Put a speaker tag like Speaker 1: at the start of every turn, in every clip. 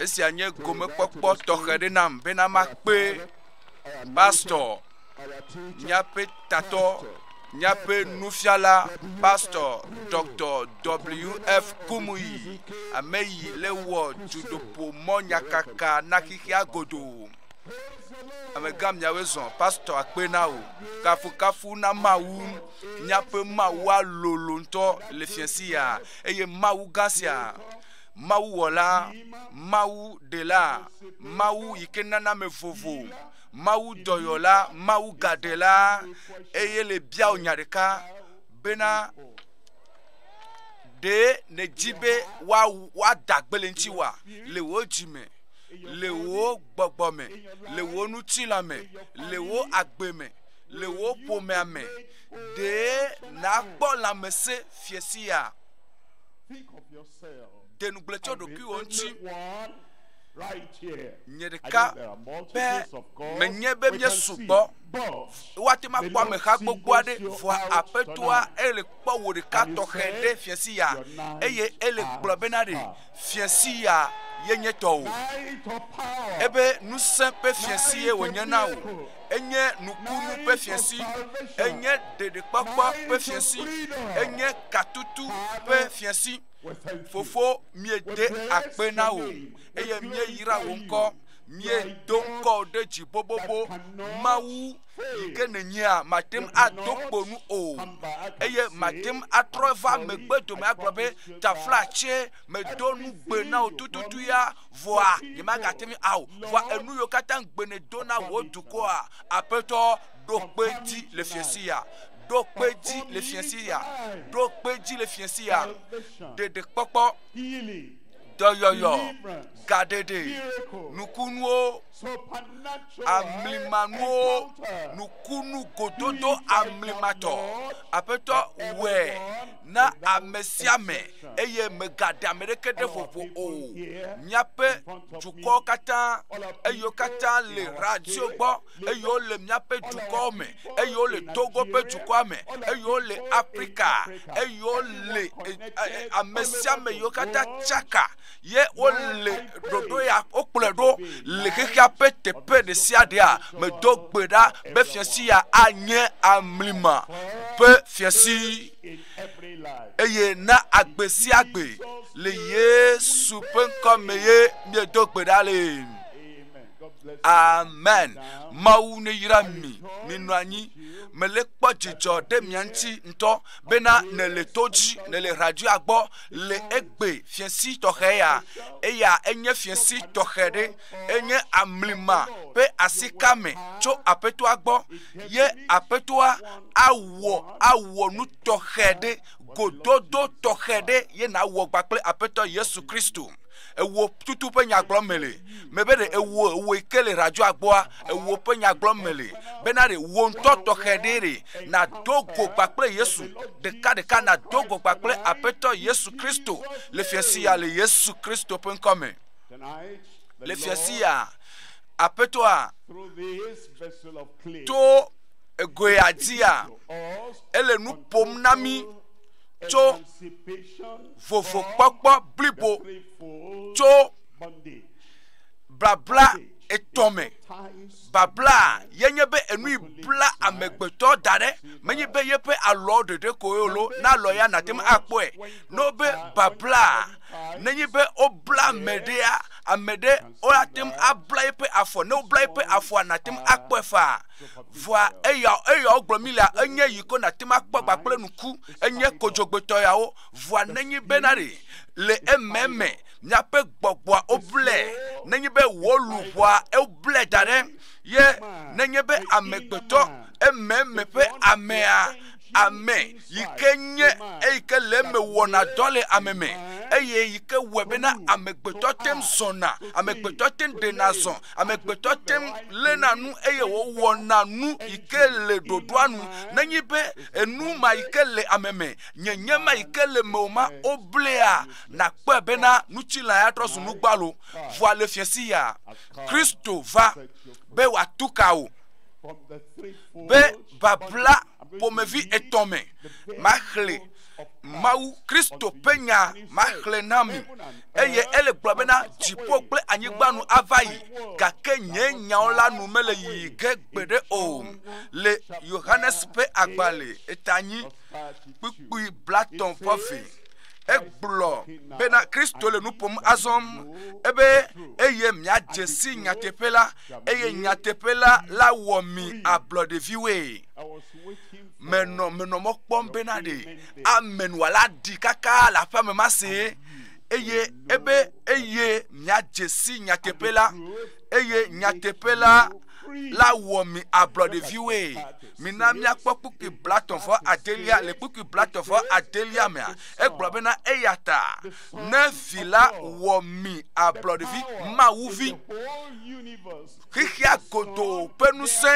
Speaker 1: Esia nye gomekpɔkpɔ tɔxɛ ɖe nam bena makpe pastɔ, míaƒe tatɔ, míaƒe nufiala, pastɔ Dr. WF Kumuyi, ame yi le wɔ dudoƒo mɔ nyakaka na xexea godo. Amegã miawoe zɔ pastɔ akpe na o. Kafukafu na Mawu, míaƒe Mawua lolo ŋutɔ le fiasia. eye Mawu gã sia, Mawu wɔla, Mawu ɖela, Mawu yi ke nana me vovo, Mawu dɔyɔla, Mawu gaɖela, eye le biawo nya ɖeka bena ɖe nèdzi be woada gbe le ŋuti wa le wò dzi me le wò gbɔgbɔ me le wò ŋutilã me le wò agbe me le wò ƒomea me Ɖe nàkpɔ lãmesẽ fie sia? Ɖe nugble tso ɖokuiwò ŋuti. Nye ɖeka be menye be míesu gbɔ. Woate ŋu akpɔ ameha gbogbo aɖe vɔa aƒetoa ele kpɔ wò ɖeka tɔxɛ ɖe fie sia eye ele gblɔ bena ɖe fie sia ye nye tɔwò. Ebe ŋusẽ ƒe fie sie wònye na wò. enye nukunu ƒe fiẽsi, enye ɖeɖekpɔkpɔ ƒe fiẽsi, enye katutu ƒe fiẽsi. Fofo, míede akpe na wò eye míeyra wò ŋkɔ, míedo ŋkɔ ɖe dzi bobobo. Mawu yi ke nènyea, màte ŋu ado kpo nu o eye màte ŋu atrɔ va megbe dome agblɔ be, Taflatse, medo nugbe na wò tututu ya. vɔa nyemagate ŋu ao, vɔa enu yiwo katã gbene do na wò dukɔa, aƒetɔ ɖo kpe dzi le fiesi ya, ɖo kpe dzi le fiesi ya, ɖo kpe dzi le fiesi ya, ɖeɖe kpɔkpɔ, dɔyɔyɔ, gaɖeɖe, nukunuwo, amlimanuwo, nukunu gododo amlimatɔ, aƒetɔ wɛ. na ame sia ame eye mègaɖe ame ɖeke ɖe vovo o. Míaƒe dukɔwo katã, eye wo katã le radio gbɔ, eye wole míaƒe dukɔwo me, eye wole Togo ƒe dukɔa me, eye wole Afrika, eye wole eh, eh, eh, ame sia ame yiwo katã tsaka ye wole ɖoɖo ya wokplɔe ɖo le xexea ƒe teƒe ɖe sia ɖea medo gbe ɖa be fiasi ya anye amlima ƒe fiasi eye na agbe sia gbe le yesu ƒe ŋkɔ me ye miedo gbe ɖa le amen mawu ne yra mi minɔ anyi mele kpɔ dzidzɔ ɖe mia ŋuti ŋutɔ bena nele to dzi nele radio gbɔ le egbe fiesi tɔxɛ ya eya enye fiesi tɔxɛ ɖe enye amlima ƒe asi kame tso aƒetoa gbɔ ye aƒetoa awɔ awɔ nu tɔxɛ ɖe gododo tɔxɛ ɖe ye nawɔ kpakple aƒetɔ yesu kristu ewuwo tutu ƒe nyagblɔ me le me be ɖe ewuwo ewuwo yi ke le radio agbɔa ewuwo ƒe nyagblɔ me le bena ɖe wo ŋutɔ tɔxɛ ɖe ɖe nado go kpakple yesu ɖeka ɖeka nado go kpakple aƒetɔ yesu kristo le fiasi ya le yesu kristo ƒe ŋkɔ me le fiasi ya aƒetɔa to egoea dzia ele nu ƒom na mi tso vovokpɔkpɔ blibo tso babla etɔ me babla ye nye be enu yi bla amegbetɔ da ɖe menye be yeƒe alɔ ɖeɖe ko ye lo na alɔ ya nate ŋu akpɔe ne wobe babla nenye be wobla ame ɖea ame ɖe woate ŋu abla eƒe afɔ ne wobla eƒe afɔa nate ŋu akpɔe faa vɔa eya eya wogblɔ mi la enye yi ko nate ŋu akpɔ gba kple ŋku enye kodzogbetɔ yawo vɔa nenyi bena ɖe le ememe miaƒe gbɔgbɔa woblɛ nenyi be wò luʋɔa woblɛ da ɖe ye nenye be amegbetɔ ememe ƒe amea ame yi ke nye eyi ke le eme wɔna dɔ le ame me eye yi ke wɔe bena amegbetɔ te ŋu zɔna, amegbetɔ te ŋu ɖena zɔ, amegbetɔ te ŋu léna nu eye wòwɔna nu yi ke le ɖoɖoa nu. Nenye be enu ma yi ke le ame me, nyenye ma yi ke le eme o ma, woblaea, nàkpɔe bena ŋutilã ya trɔ zu nu gbalo. Vɔa le fiẽ si ya Kristo va be wòatu ka wò be, babla ƒomevi etɔ̃ me. Maxlẽ Mawu, Kristo ƒe nya maxlẽ na mi, eye ele gblɔ bena dziƒo kple anyigba nu ava yi, gake nye nyawo la nu mele yiyi ge gbeɖe o. Le Yohanes ƒe agbalẽ etanyi kpukpui blatɔ̃ ƒe eve, egblɔ bena Kristo le nu ƒom azɔ ebe eye miadze si nyateƒe la eye nyateƒe la la wɔ mi agblɔ ɖeviwoe menɔ menɔ mɔ kpɔm bena ɖe amen wòala ɖi kaka le aƒeme ma see eye ebe eye miadze si nyateƒe la eye nyateƒe la la wɔ mi agblɔ ɖeviwoe mina míakpɔ kpukpui blatɔ̃ vɔ adelia le kpukpui blatɔ̃ vɔ adelia mea egblɔ bena eya ta ne vi la wɔ mi ablɔɖevi mawuvi xexea godoo ƒe ŋusẽ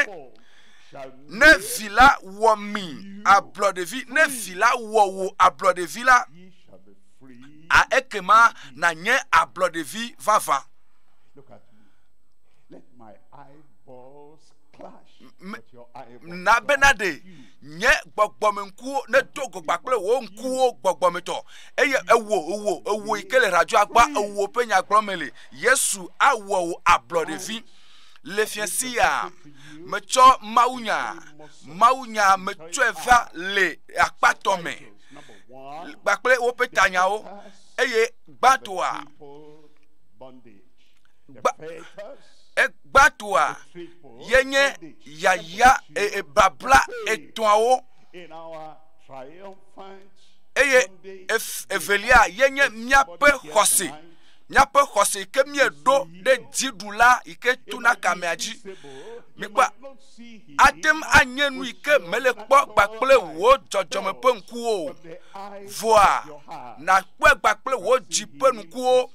Speaker 1: ne vi la wɔ mi ablɔɖevi ne vi la wɔ wò ablɔɖevi la a ekema nànye ablɔɖevi vavã na bena ɖe nye gbɔgbɔme ŋkuwo nedo gogba kple wò ŋkuwo gbɔgbɔmetɔ eye ewo ewo ewo yi ke le radio agba ewo ƒe nyagblɔme le yesu awɔ wò ablɔɖevi le fiase ya metsɔ mawunya mawunya metsɔe va le akpatɔ me kpakple woƒe tanyawo eye gbãtɔa egbatoa yenye yaya e, e, babla etɔ̃awo eye evelia yenye míaƒe xɔse míaƒe xɔse ke míeɖo ɖe dziɖula yi ke tuna kamea dzi mikpɔ ate ŋu anye nu yi ke mele kpɔ gbakple wò dzɔdzɔme ƒe ŋkuwo o vɔa nàkpɔe gbakple wò dzi ƒe ŋkuwo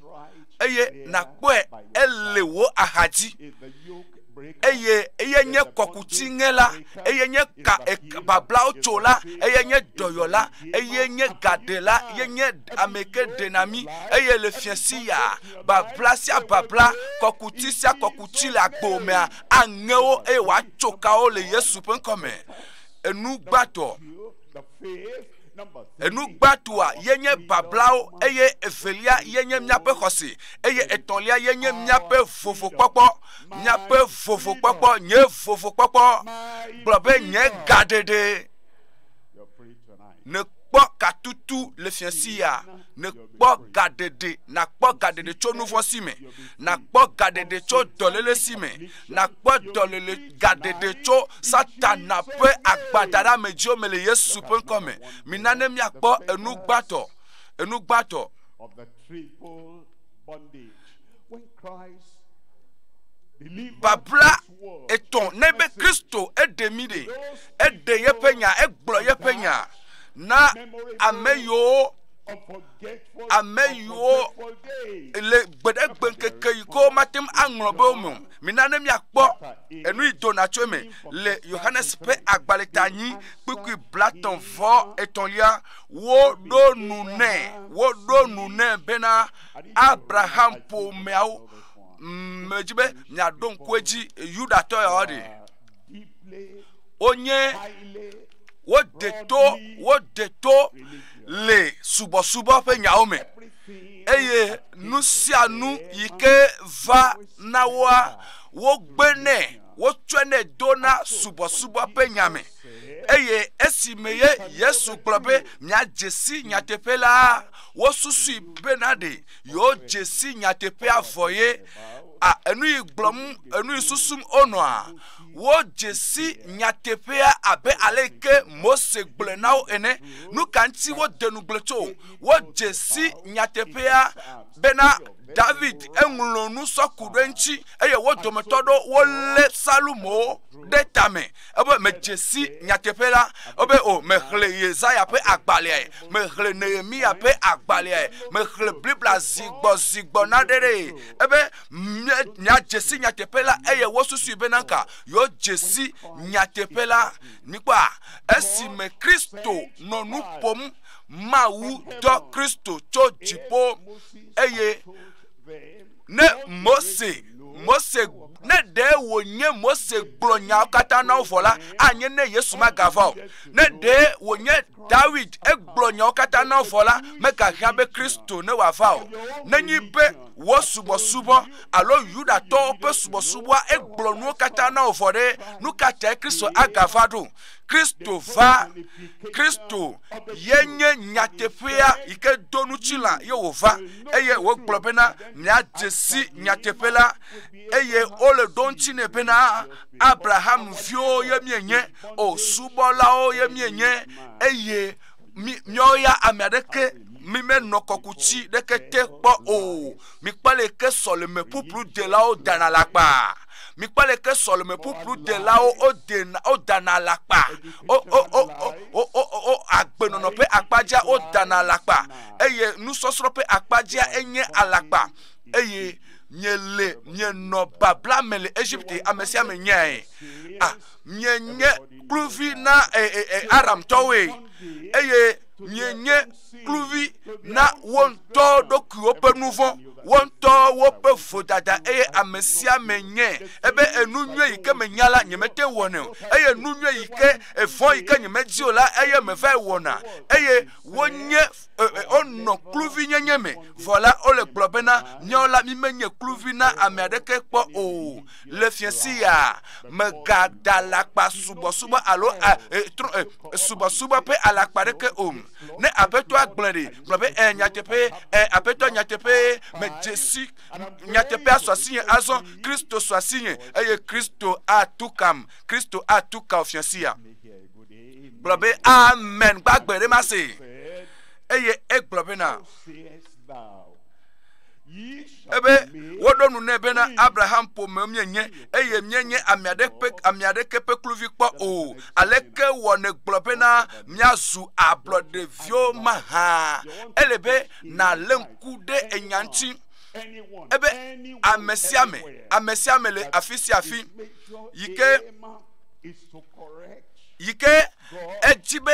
Speaker 1: eye nàkpɔe ele wò axadzi eye eye nye kɔkuti ŋe la eye nye ka bablawo tso la eye nye dɔyɔla eye nye gaɖela eye nye ame ke ɖena mi eye le fiasi ya babla sia babla kɔkuti sia kɔkuti le agbo mea aŋe wo eye wòatso kawo le yesu ƒe ŋkɔ me enu gbãtɔ Enugbatua ye nye bablawo eye evelia ye nye míaƒe xɔse eye etɔ̃lia ye nye míaƒe vovokpɔkpɔ. Míaƒe vovokpɔkpɔ, nye vovokpɔkpɔ gblɔ be nye gaɖeɖe nekpɔ katutu le fiasi ya, nekpɔ gaɖeɖe, nakpɔ gaɖeɖe tso nuvɔ̃si me, nakpɔ gaɖeɖe tso dɔléle si me. nàkpɔ dɔlele gaɖeɖe tso Satana ƒe agbadaramedziwo me le Yesu ƒe ŋkɔ me. Mina ne míakpɔ enu gbãtɔ, enu gbãtɔ. Babla etɔ̃ ne be Kristo eɖe mi ɖe, eɖe yeƒe nya, egblɔ yeƒe nya na ame yiwo ame yiwo le gbeɖegbe ŋkeke yi ke womate ŋu aŋlɔ be wo me o. Mina ne míakpɔ enu yi dona tso eme le Yohanes ƒe agbalẽ ta nyi kpukpui blatɔ̃ vɔ etɔ̃lia. Woɖo nu nɛ, woɖo nu nɛ bena Abraham ƒomeawo medzi be miaɖo ŋku edzi Yudatɔ yawo ɖi. wonye wode to wode to le subɔsubɔ ƒe nyawo me eye nu sia nu yi ke va na woa wogbenɛ wotsɔnɛ do na subɔsubɔ ƒe nya me eye esi me ye yesu gblɔ be miadze si nyateƒe la wosusui bena ɖe yewo dze si nyateƒea vɔ ye a enu yi gblɔm enu yi susum wonɔa wodze si nyateƒea abe ale yi ke mose gblɔe na wo ene nu ka ŋuti wode nugble tso wodze si nyateƒea bena david eŋlɔ nu sɔ ku ɖe eŋuti eye wo dometɔ ɖewo wolé salomo ɖe tame Ebe medze si nyateƒe la, ebe o, mexlẽ Yesaya ƒe agbalẽae, mexlẽ Nehemiya ƒe agbalẽae, mexlẽ Biblia zi gbɔ zi gbɔ naɖe ɖee. Ebe miadze si nyateƒe la eye wosusui bena ka yeodze si nyateƒe la. Mikpɔa, esime Kristo nɔ nu ƒom Mawu dɔ Kristo tso dziƒo eye Ne Mose, Mose, ne ɖe wònye Mose gblɔ nyawo katã na wo vɔ la, anye ne Yesu magava o. Ne ɖe wònye Dawid egblɔ nyawo katã na wo vɔ la, megahiã be Kristo ne wòava o. Nenyi be wò subɔsubɔ alo Yudatɔwo ƒe subɔsubɔa egblɔ nuwo katã na wo vɔ ɖe, nu ka tae Kristo agava ɖo? Kristo va. Kristo ye nye nyateƒea yi ke do ŋutilã ye wòva eye wògblɔ bena miadze si nyateƒe la eye wole ɖo ŋuti nɛ bena Abraham viwo ye mienye o subɔlawo ye mienye eye míawo ya ame aɖeke mimenɔ kɔkuti ɖeke te kpɔ o. Mikpɔ le ke sɔleme ƒuƒlu delawo dana la kpa. Mikpɔ le ke sɔleme ƒuƒlu delawo o dena o dana la kpa. O o o o o o o agbenɔnɔ ƒe akpadzia o dana la kpa. Eye nusɔsrɔ̃ ƒe akpadzia enye alakpa. Eye mie le mie nɔ babla me le Egypte ame sia ame nyae. A ah, mie nye kluvi na e e e Aramtɔwoe. Eye mie nye kluvi na wo ŋutɔ ɖokuiwo ƒe nu vɔ̃ wo ŋutɔ woƒe vodada eye ame sia ame nye ebe enu nyui yi ke menya la nyemete wɔnɛ o eye nu nyui yi ke evɔ̃ yi ke nyemedi o la eye meva wɔna eye wonye wonɔ kluvi nyenye me vɔ la wole gblɔ bena míawo la mi menye kluvi na ame aɖeke kpɔ o le fiasi ya megada alakpa subɔsubɔ alo subɔsubɔ ƒe alakpa aɖeke o Ne Aƒetɔa gblɔe ɖe, gblɔ be, ɛɛ, nyateƒee, ɛɛ, Aƒetɔ, nyateƒee, medze si, nyateƒea sɔ asinye azɔ, Kristo sɔ asinye, eye Kristo atu kam, Kristo atu kao fiasia. Gblɔ be, amen, gbagbe ɖe ma se. Eye egblɔ bena, ebe woɖo nu nɛ bena abraham ƒome mienye eye mienye ame aɖeke ame aɖeke ƒe kluvi kpɔ o aleke wɔ negblɔ bena miazu ablɔɖeviwo mahã ele be nàlé ŋku ɖe enya ŋuti ebe ame sia ame ame sia ame le afi sia afi yi ke yi ke edzi be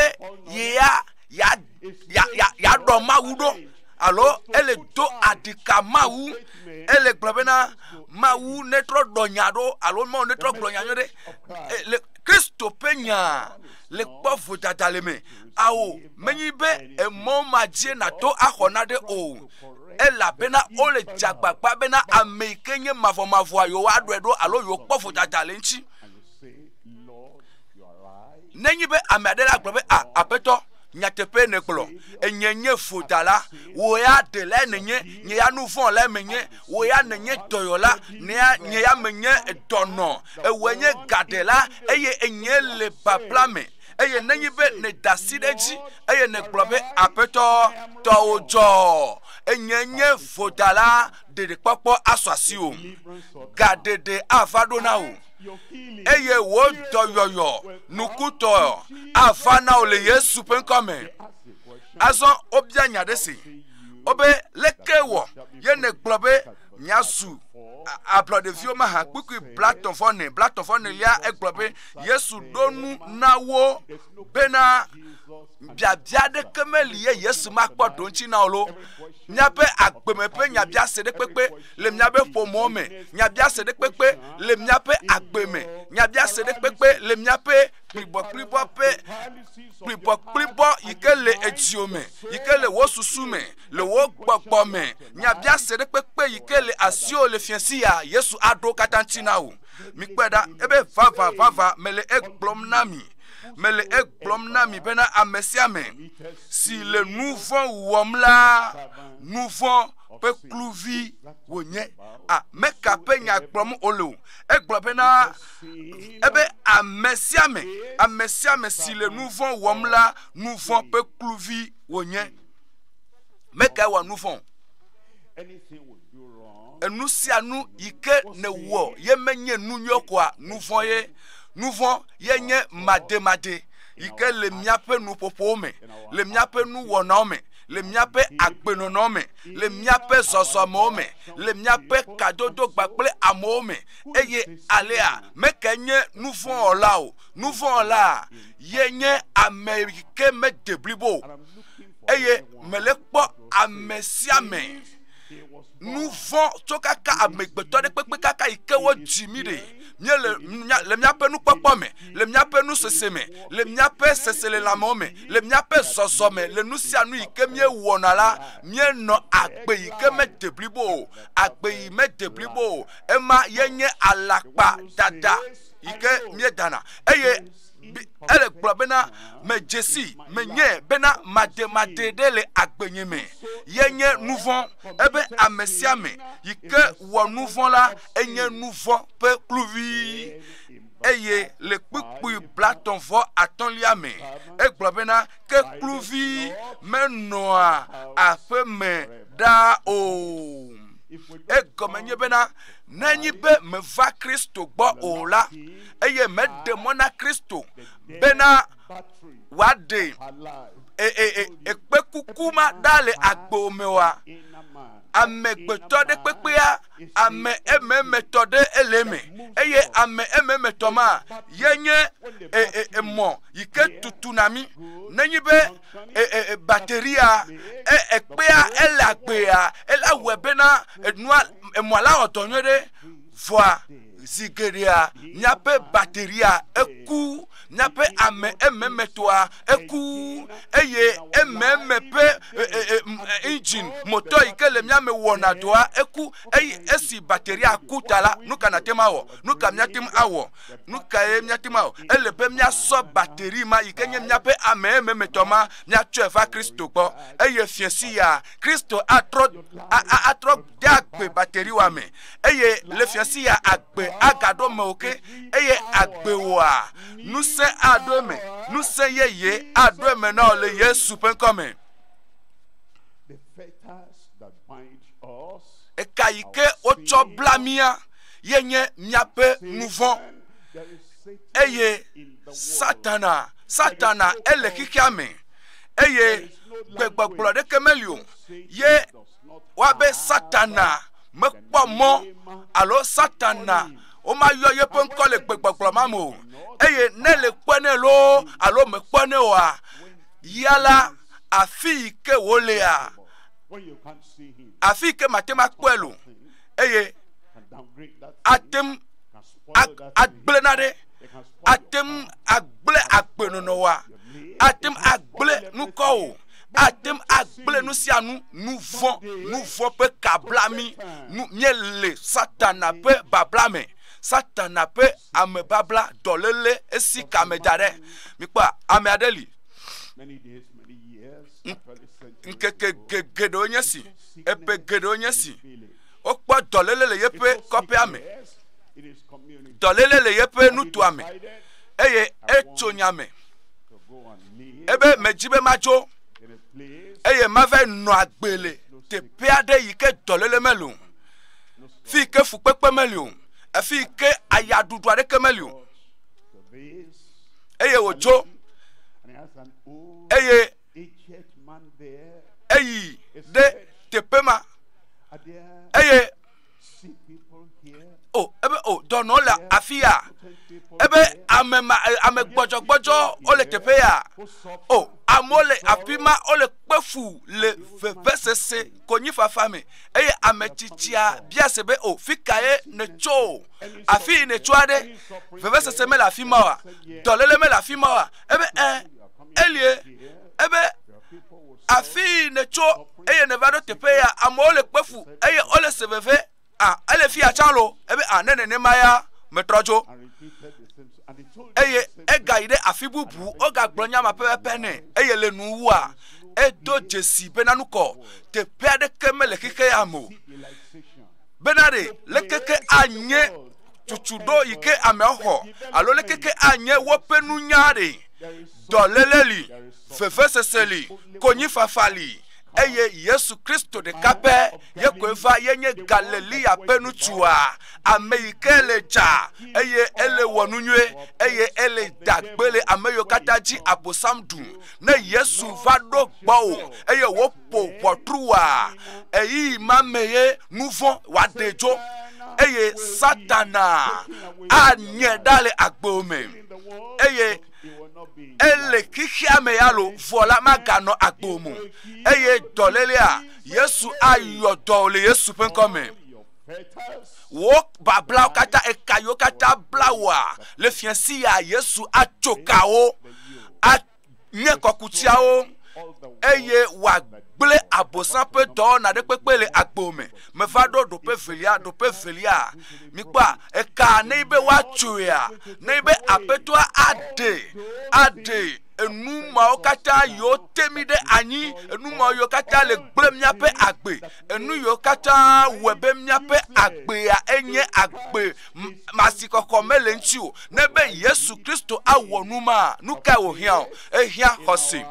Speaker 1: yea yea yaɖɔ Mawu ɖo alo ele do adika Mawu ele gblɔ bena Mawu netrɔ ɖɔ nya ɖo alo Mawu netrɔ gblɔ nya ɖo ɖe le Kristo ƒe nya le kpɔ vodada le me awo menyi be emɔ ma dzi nato axɔ na ɖe o elabena wole dze agbagba bena ame yi ke nye mavɔmavɔa yewoaɖɔe ɖo alo yewokpɔ vodada le eŋuti. Nenye be ame aɖe la gblɔ be, A, Aƒetɔ, nyateƒee nègblɔ, Enye nye vodala, wò ya ɖe lae nènye, nye ya nu vɔ̃ lae menye, wò ya nènye dɔyɔla, ne ya, nye ya menye dɔnɔ, ewòe nye gaɖela, eye enyee le babla me. Eye nenye be nèda asi ɖe edzi, eye nègblɔ be, Aƒetɔ, tɔwò dzɔ, enyee nye vodala, ɖeɖekpɔkpɔ asɔ asiwò, gaɖeɖe ava ɖo na wò. eye wò dɔyɔyɔ nukutɔ ava na wò le yesu ƒe ŋkɔ me azɔ wobia nya ɖe si wobe leke wɔ ye negblɔ be miazu ablɔ ɖeviwo ma ha kpukpui blatɔ vɔ ne blatɔ vɔ ne lia egblɔ be yesu ɖo nu na wo bena biabia aɖeke meli ye Yesu makpɔ ɖoŋtsi na o lo. Míaƒe agbeme ƒe nyabiase ɖekpekpe le míaƒe ƒomɔ me, nyabiase ɖekpekpe le míaƒe agbe me, nyabiase ɖekpekpe le míaƒe kplibɔkplibɔ ƒe kplibɔkplibɔ yi ke le edzio me, yi ke le wo susu me, le wo gbɔgbɔ me, nyabiase ɖekpekpe yi ke le asio le fiasi ya Yesu aɖo katã ŋuti na wò. Mikpɔe ɖa ebe vavavava mele egblɔm na mi. mele egblɔm na mi bena ame sia ame si le nu vɔ̃ wɔm la, nu vɔ̃ ƒe kluvi wònye. Ame ka ƒe nya gblɔm wole o? Egblɔ bena ebe ame sia ame, ame sia ame si le nu vɔ̃ wɔm la, nu vɔ̃ ƒe kluvi wònye. Meka wɔ nu vɔ̃. Enu sia nu yi ke nèwɔ ye menye nu nyɔ koa, nu vɔ̃ ye. Nu vɔ̃ ye nye mademadee yi ke le míaƒe nuƒoƒowo me, le míaƒe nuwɔnawo me, le míaƒe agbenɔnɔ me, le míaƒe zɔzɔmewo me, le míaƒe kadodo kple amewo me. Eye alea meke nye nuvɔ̃wɔla o. Nuvɔ̃wɔla ye nye ame yi ke mede blibo o. Eye mele kpɔ ame sia ame. nu vɔ̃ tso kaka amegbetɔ ɖe kpekpe kaka yi ke wodzi mí ɖe mía le míaƒe nukpɔkpɔ me le míaƒe nusese me le míaƒe seselelãmewo me le míaƒe zɔzɔ me le nu sia nu yi ke míewɔna la míenɔ agbe yi ke mede blibo o agbe yi mede blibo o ema yenye alakpa dada yi ke míedana eye ele gblɔ bena medze si menye bena made made ɖe le agbenye me yenye nu vɔ̃ ebe ame sia ame yi ke wɔ nu vɔ̃ la enye nu vɔ̃ ƒe kluvi eye le kpukpui blatɔ vɔ atɔlia me egblɔ bena ke kluvi menɔa aƒe me ɖaa o egɔme nye bena nenyi be meva kristo gbɔ o la eye meɖe mɔ na Kristo bena wòaɖe e, e, e, ekpekuku ma ɖa le agbo me wa. Amegbetɔ ɖe kpekpea ame ememetɔ ɖe ele me eye ame ememetɔ ma ye nye emɔ yi ke tutuna mi. Nenye be bateria ekpea ele agbea, ele awɔe bena enua emɔ la wɔ dɔ nyuie ɖe vɔa Zi geɖea míaƒe bateria eku, míaƒe ame ememetɔa eku, eye ememe ƒe e, e, e, engine motɔ yi ke le mía me wɔna dɔa eku. Eye esi bateria ku ta la, nu ka nate ŋu awɔ? Nu ka míate ŋu awɔ? Nu kae míate ŋu awɔ? Ele be míasɔ bateri ma yi ke nye míaƒe ame ememetɔ ma míatsɔe va Kristo gbɔ, eye fiẽ si ya Kristo atrɔ atrɔ de agbe bateri wa me. eye le fiasi ya agbe agaɖo mewò ke eye agbe wòa ŋusẽ aɖo eme ŋusẽ yeye aɖo eme na wò le yesu ƒe ŋkɔ me
Speaker 2: eka yi ke
Speaker 1: wotsɔ bla mía ye nye míaƒe nuvɔ eye satana satana ele xexea me eye gbegbɔgblɔ ɖeke meli o ye Woabe Satana mekpɔ mɔ alo Satana womayɔ yeƒe ŋkɔ le gbegbɔgblɔ ma me o eye ne le kpɔe nɛ loo alo mekpɔe nɛ oa, ya la afi yi ke wòlea afi yi ke mate ŋu akpɔe lo eye ate ŋu agblẽ na ɖe ate ŋu agblẽ agbenɔnɔ wa ate ŋu agblẽ nukɔ o. ate ŋu agblẽ nu sia nu nu vɔ̃ nu vɔ̃ ƒe ka bla mí nu míele satana ƒe babla me satana ƒe amebabla dɔléle esi kame da ɖe mikpɔ ame aɖe li ŋkeke geɖewo nye si eƒe geɖewo nye si wokpɔ dɔléle le yeƒe kɔƒea me dɔléle le yeƒe nutoa me eye etso nya me ebe medzi be matso eye mava nɔ agbe le teƒe aɖe yi ke dɔlele meli o fi yi ke fukpekpe meli o afi yi ke ayaɖuɖu aɖeke meli o eye wòtso eye eyi ɖe teƒe ma eye o oh, ebe o oh, dɔnɔ le afi ya ebe ame ma eh, ame gbɔdzɔgbɔdzɔ wole teƒe ya o oh, amewo le afi ma wole kpe fu le vevesese konyifafa me eye ame tsitsia bia se be o oh, fi ka ye netso o afi yi netso aɖe vevesese mele afi ma wa dɔlele mele afi ma wa ebe ɛ eh, elie ebe Afii nètso eye nèva ɖo teƒe ya, amewo le kpe fu eye wole se veve. A, ele fia tsã lo. Ebe a, ne nenema ya metrɔ dzo. Eye egayi ɖe afi bubu, wogagblɔ nya ma pɛpɛpɛ nɛ. Eye le nuwua, edo dzesi bena nu kɔ. Teƒe aɖeke mele xexea me o. Bena ɖe, leke ke anye tutuɖo yi ke ameawo xɔ alo leke ke anye woƒe nunya ɖe, dɔléle li. vevesese li, konyifafa li, eye Yesu Kristo ɖeka pɛ ye koe va yenye Galilea ƒe nutsua, ame yi ke le dza, eye ele wɔ nu nyuie, eye ele da gbe le ame yiwo katã dzi Abosam ɖu. Ne Yesu va ɖo gbɔwò eye woƒo ʋɔtrua, ɣeyiɣi ma me ye nu vɔ̃ wòaɖe dzo, eye Satana anye ɖa le agbewo me, eye ele xexea me ya lo vɔ la maganɔ agbo mo eye dɔlélea yesu ayɔ dɔ le yesu ƒe ŋkɔ me wò bablawo katã eka yiwo katã bla wòa le fiasi ya yesu atso kawo anye kɔkutiawo eye wòagblẽ abosam ƒe dɔwɔna ɖe kpekpe le agbo me meva ɖo ɖoƒe evelia, ɖoƒe evelia. Mikpɔa, ekaa ne be woatsoea, ne be aƒetɔa aɖe, aɖe enu mawo katã yiwo te mi ɖe anyi, enu mawo yiwo katã le gblẽ míaƒe agbe, enu yiwo katã wɔe be míaƒe agbea enye agbe masi kɔkɔ mele ŋuti o. Ne be Yesu Kristo awɔ nu ma, nu kae wòhiã o? Ehiã xɔse,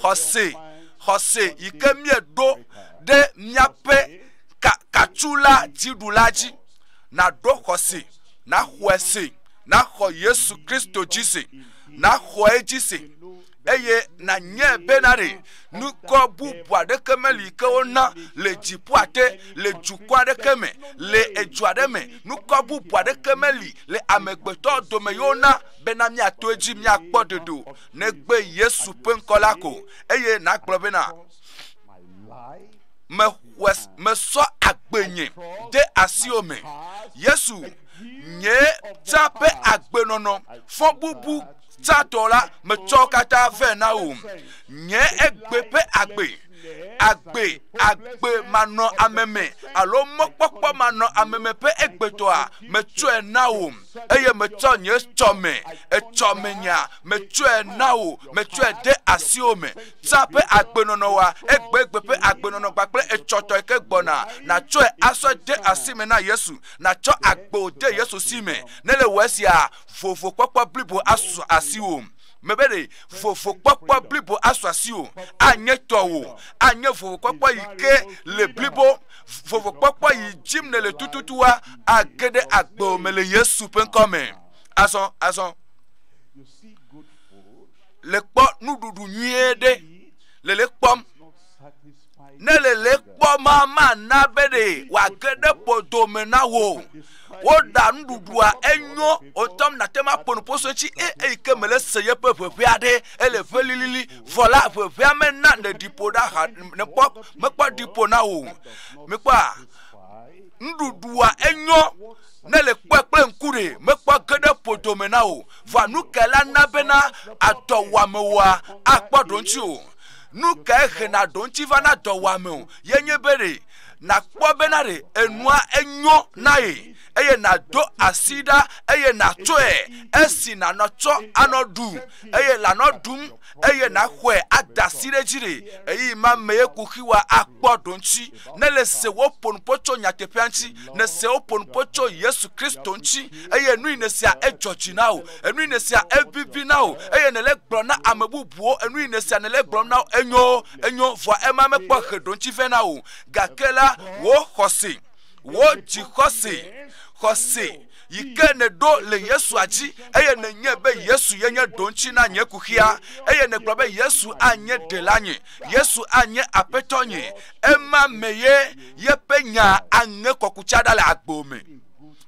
Speaker 1: xɔse, xɔse yi ke míeɖo ɖe míaƒe katula dziɖula dzi, naɖo xɔse, naxɔe se, naxɔ Yesu Kristo dzi se, naxɔ edzi se, eye nanye bena ɖe nukɔ bubu aɖeke meli ke wona le dziƒoa te, le dukɔ aɖeke me, le edu aɖe me, nukɔ bubu aɖeke meli le amegbetɔ dome yi wona bena míato edzi míakpɔ ɖeɖe o, negbe Yesu ƒe ŋkɔ la ko, eye nagblɔ bena. mesɔ agbe nye de asiwo me. Yesu nye tsa ƒe agbenɔnɔ fɔbubu tsatɔ la metsɔ katã vɛ na wò. Nye egbe ƒe agbe, agbe, agbe manɔ ame me alo mɔkpɔkpɔ manɔ ame me ƒe egbetɔa metsɔe na wò eye metsɔ nye tsɔ me, etsɔ me nya metsɔe na wò, metsɔe de asiwo me. Zã ƒe agbenɔnɔ wa egbegbe ƒe agbenɔnɔ kpakple etsɔtɔe ke gbɔna. Nàtsɔe asɔ de asi me na Yesu. Nàtsɔ agbe wò de Yesu si me. Ne le wɔ esia, vovokpɔkpɔ blibo asu asiwò. Mebe ɖe vovokpɔkpɔ blibo asu asiwò. Anye tɔwò. Anye vovokpɔkpɔ yi ke le blibo. Vovokpɔkpɔ yi dim nèle tututua age ɖe agbewò me le Yesu ƒe ŋkɔ me. Azɔ, azɔ. le kpɔ nuɖuɖu nyuie ɖe le le kpɔm ne le le kpɔm ma mana be ɖe wòage ɖe bodo me na wò woɖa nuɖuɖua enyo wotɔm nate ma ƒo nuƒoso tsi e, eyi ke me le se yeƒe ʋeʋea ɖe ele ʋe lilili vɔ la ʋeʋea mena ne ɖi ƒo ɖa ha ne kpɔ mekpɔ ɖi ƒo na wò mekpɔ a nuɖuɖua enyo Nèle kpɔe kple ŋku ɖe, mekpɔ ge ɖe ƒo dome na wò. Vɔa nu kae la na bena adɔwɔamewoa akpɔ ɖoŋti o? Nu kae hena ɖoŋti vana dɔwɔame o? Ye nye be ɖe nàkpɔ bena ɖe enua enyo na ye, eye nàdo asi ɖa eye nàtsɔe esi nànɔ tsɔ anɔ ɖu, eye lànɔ ɖum, eye nàxɔe ada asi ɖe edzi ɖe ɣeyiɣi ma mee kuxiwoa akpɔ ɖoŋti. ne le se woƒo nu ƒo tso nyateƒea ŋuti, ne se woƒo nu ƒo tso Yesu Kristo ŋuti, eye enu yi ne sea edzɔ dzi na wò, enu yi ne sea evivi na wò, eye ne le gblɔ na ame bubuwo, enu yi ne sea ne le gblɔ na wò, enyo, enyo, vɔa ema mekpɔ he ɖoŋuti vɛ na wò, gake la, wò xɔse, wò dzi xɔse, xɔse, yi ke nèɖo le Yesua dzi eye nènyae be Yesu ye nye ɖoŋuti na nye kuxia eye nègblɔ be Yesu anye ɖela nye, Yesu anye aƒetɔ nye, ema me ye yeƒe nya aŋe kɔkutsa ɖa le agbo me.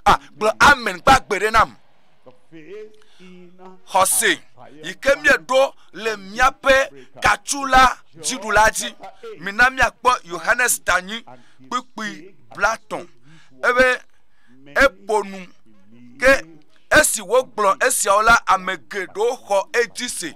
Speaker 1: Ah, gblɔ amen gbagbe ɖe nam. Xɔse yi ke míeɖo le míaƒe katsu la dziɖula dzi. Mina míakpɔ Yohanes tanyi kpukpui blatɔn ebe eƒo nu. Ke esi wogblɔ esiawo la, ame geɖewo xɔ edzi se.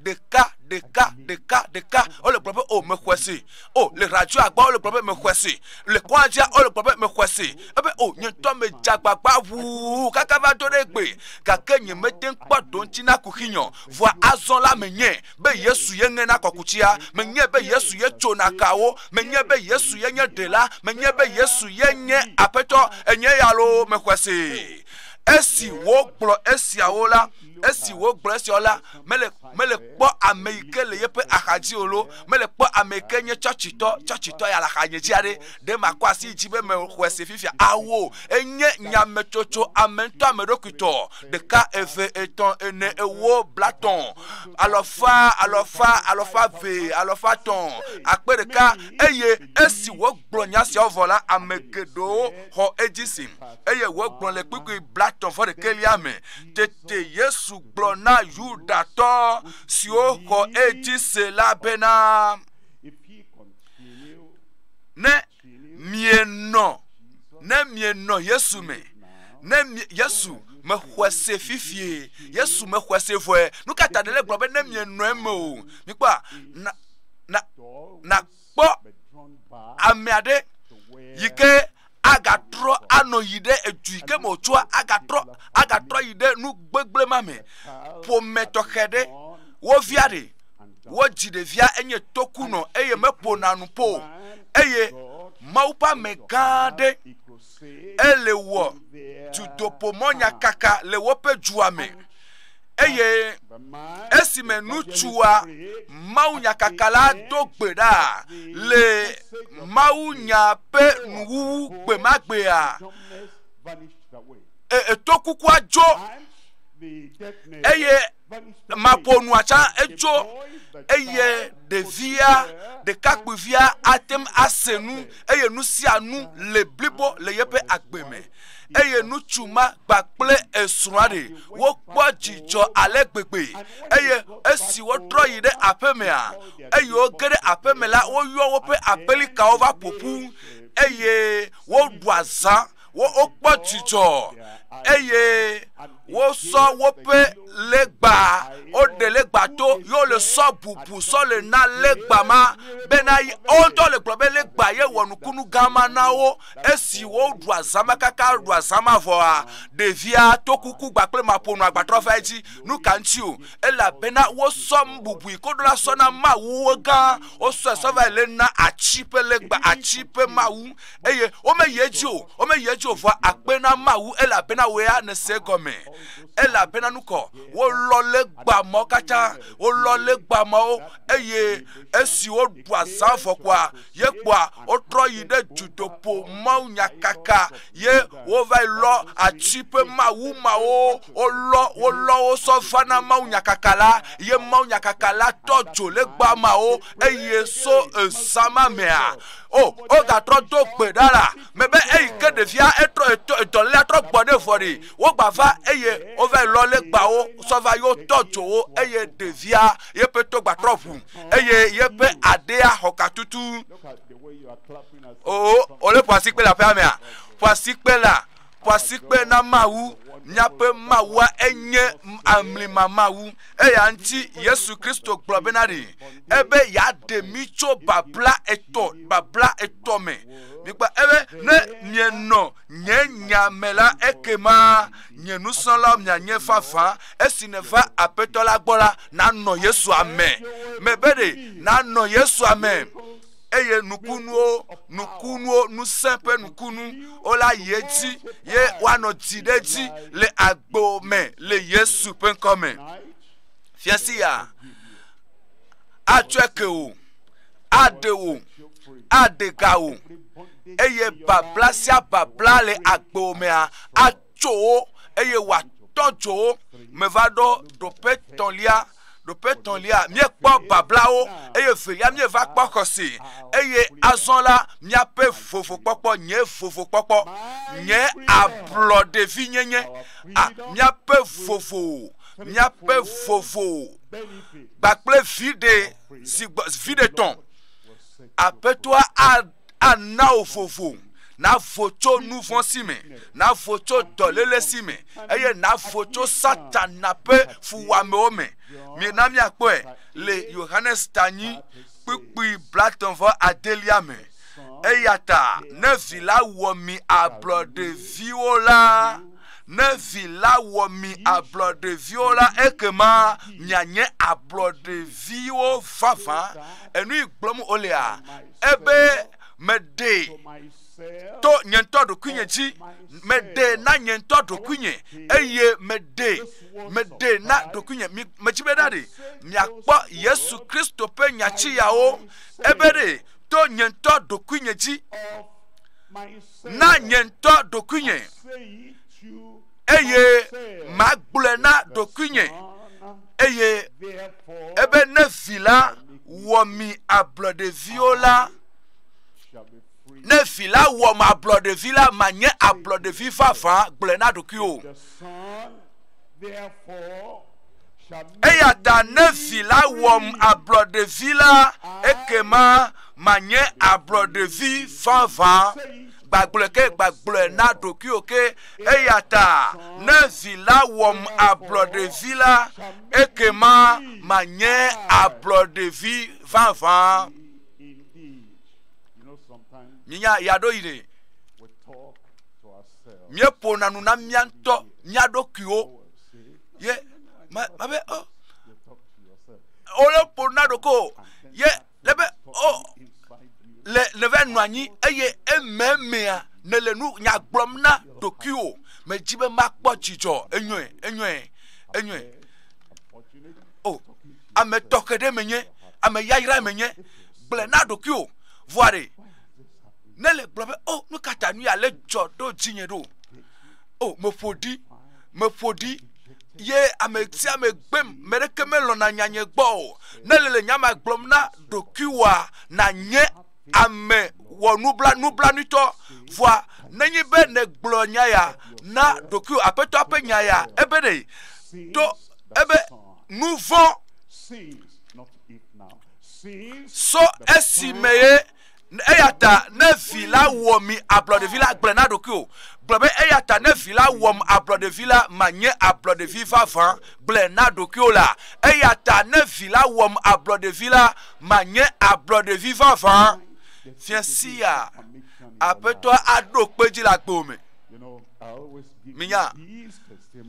Speaker 1: Ɖeka, ɖeka, ɖeka, ɖeka, wole gblɔ be, o oh, mexɔe se. O, oh, le radio agba wole gblɔ be mexɔe se. Le kɔadzia wole gblɔ be mexɔe se. Ebe, o, oh, nye ŋutɔ me dze agbagba ʋuu kaka va do ɖe gbe, gake nyemete ŋu kpɔ ɖoŋuti na kuxinyɔ. Vɔa azɔ la menye. be Yesu ye ŋena kɔkutsia, menyae be Yesu ye tsona kawo, menyae be Yesu ye nye ɖela, menyae be Yesu ye nye aƒetɔ, enye ya loo, mexɔe see. Esi wogblɔ esiawo la, esi wogblɔ esiawo la, mele, mele kpɔ ame yi ke le yeƒe axadzi o lo, mele kpɔ ame yi ke nye tsɔtsitɔ, tsɔtsitɔ ya le axanye dzi aɖe, ɖe makɔ asi dzi be mexɔe se fifia, awo, enye nyametsotso ame ŋutɔ ame ɖokuitɔ. ɖeka eve etɔ̃ ene ewo blatɔ̃ alɔfa alɔfa alɔfa ve alɔfa tɔ̃ akpe ɖeka eye esi wogblɔ nya siawo vɔ la ame geɖewo xɔ edzi si eye wogblɔ le kpukpui blatɔ̃ vɔ ɖekelia me tete yesu gblɔ na yudatɔ siwo xɔ edzi se la bena ne mienɔ ne mienɔ yesu me ne yesu mexɔe se fifie yesu mexɔe se vɔe nu ka ta ɖele gblɔ be ne mienɔ eme o mikpɔ na na na kpɔ ame aɖe yi ke agatrɔ anɔ yi ɖe edu yi ke me wòtsoa agatrɔ agatrɔ yi ɖe nu gbegblẽ ma me ƒome tɔxɛ ɖe wo via ɖe wodzi ɖevia enye tokunɔ eye meƒona nu po eye Mawu ƒe ame gã aɖe ele wɔ dudoƒomɔ nyakaka le woƒe dua me eye esime ŋutsua Mawu nyakaka la do gbe ɖa le Mawu nya ƒe nuwuwu gbe ma gbea etokukua dzo eye maƒo nua tsã edzo eye ɖevia ɖekakpuivia ate ŋu ase nu eye nu sia nu le blibo le yeƒe agbe me eye ŋutsu ma kpakple esrɔ̃a ɖe wokpɔ dzidzɔ ale gbegbe eye esi wotrɔ yi ɖe aƒemea eye woge ɖe aƒeme la woyɔ woƒe aƒelikawo va ƒoƒu eye woɖua zã wo wokpɔ dzidzɔ eye wosɔ woƒe legba woɖe legba to ye wole sɔ bubu sɔ le na legba ma bena wo ŋutɔ le gblɔ be legba ye wɔ nukunu gã ma na wo esi woɖu azãma kaka ɖu azãma vɔa ɖevia to kuku gba kple maƒonu agbatrɔ va edzi nu ka ŋuti o elabena wosɔ bubui koɖo la sɔ na mawuwo gã wosɔe sɔ va le na atsi ƒe legba atsi ƒe mawu eye womeyi edzi o womeyi edzi o vɔ akpe na mawu elabena wòe anese egɔme elabena nu kɔ wolɔ legba mawo katã wolɔ legba mawo eye esi woɖu azã vɔkua ye kpɔa wotrɔ yi ɖe dutoƒo mawu nyakaka ye wova yi lɔ ati ƒe mawu mawo wolɔ wolɔ wo sɔ va na mawu nyakaka la ye mawu nyakaka la tɔ dzo legba mawo eye so ezã ma mea O, wogatrɔ do gbe ɖa la me be eyi ke ɖevia etrɔ dɔlélea trɔ gbɔ ɖe vɔ ɖi. Wogba va eye wova yi lɔ legbawo sɔ va yewo tɔ dzo wo eye ɖevia yeƒe to gbatrɔ ʋu eye yeƒe aɖea xɔ katutu. O, wole ƒoasikpe le aƒea mea? Ƒoasikpe la. ƒo asikpe na Mawu. Míaƒe Mawua enye amlima Mawu. Eya ŋuti Yesu Kristo gblɔ bena ɖi ebe yeaɖe mí tso babla etɔ babla etɔ me. Mikpa ebe ne mienɔ nye nya me la ekema nye nusrɔ̃lawo mianye vavã esi neva Aƒetɔ la gbɔ la nanɔ Yesua me. Mebe ɖe nanɔ Yesua me. eye nukunuwo nukunuwo ŋusẽ ƒe nukunu wola yi edzi ye woanɔ dzi ɖe edzi le agbo me le yesu ƒe ŋkɔ me fiasi ya atsɔe ke o aɖe o aɖe ga o eye babla sia babla le agbo mea tso wo eye wòatɔ dzo wo. Meva ɖo ɖoƒe tɔ̃lia ɖoƒe tɔ̃lia míekpɔ bablawo eye velia míeva kpɔ xɔse eye azɔ la míaƒe vovokpɔkpɔ nye vovokpɔkpɔ nye ablɔɖevinyenye a míaƒe vovo míaƒe vovo kpakple viɖe zigbɔ viɖe tɔ̃ aƒetɔa a ana wò vovo navo tso nu vɔ̃ si me, navo tso dɔléle si me, eye navo tso Satana ƒe fuwɔamewo me. Mina míakpɔe le Yohanes tanyi kpukpui blatɔ̃ vɔ adelia me. Eya ta ne vi la wɔ mi ablɔɖeviwo la, ne vi la wɔ mi ablɔɖeviwo la, ekema mianye ablɔɖeviwo vavã. Enui gblɔm wolea? Ebe meɖee to nye ŋutɔ ɖokuinye dzi, meɖe na nye ŋutɔ ɖokuinye, eye meɖe, meɖe na ɖokuinye. Mi, medzi be ɖaɖe, miakpɔ Yesu Kristo ƒe nyatsiyawo, ebe ɖe to nye ŋutɔ ɖokuinye dzi, na nye ŋutɔ ɖokuinye. eye magblɔe na ɖokuinye eye ebe ne vi la wɔ mi ablɔ ɖeviwo la ne vi la wɔ ma ablɔ ɖevi la ma nye ablɔ ɖevi vavã gblɔe na ɖokui o eya ta ne vi la wɔm ablɔ ɖevi la ekema ma nye ablɔ ɖevi vavã gbagblɔe ke, gbagblɔe na ɖokuiwò ke. Eya ta ne vi la wɔm ablɔɖevi la, ekema manye ablɔɖevi vavã. Minya ya ɖo yi ne míeƒona nu na mía ŋutɔ mía ɖokuiwo ye mabe o. Oh, wole ƒo na ɖoko ye le be o oh, le le va nɔ anyi eye ememea ne le nu nya gblɔm na ɖokuiwò medzi be makpɔ dzidzɔ enyɔe enyɔe enyɔe o oh, ame tɔxɛ ɖe menye ame yayra menye gblẽ na ɖokuiwò vɔa ɖe ne le gblɔ be o oh, nu ka ta nu ya le dzɔ ɖo dzinye ɖo o meƒo ɖi meƒo ɖi. ye ame sia ame gbem me ɖeke melɔ̃na nya nye gbɔ o ne le le nya ma gblɔm na ɖokuiwòa nanye ame wɔ nubla nublanuitɔ vɔa nenye be nègblɔ nya ya na ɖokuiwò aƒetɔa ƒe nya ya ebe ɖe to ebe nu vɔ̃ sɔ esi me ye eya ta ne vi la wɔ mi ablɔɖevi la gblɔ na ɖokui o gblɔ be eya ta ne vi la wɔm ablɔɖevi la manye ablɔɖevi vavã gblɔ na ɖokui o la eya ta ne vi la wɔm ablɔɖevi la manye ablɔɖevi vavã fiasia aƒetɔa aɖo kpe dzi le agbo me minya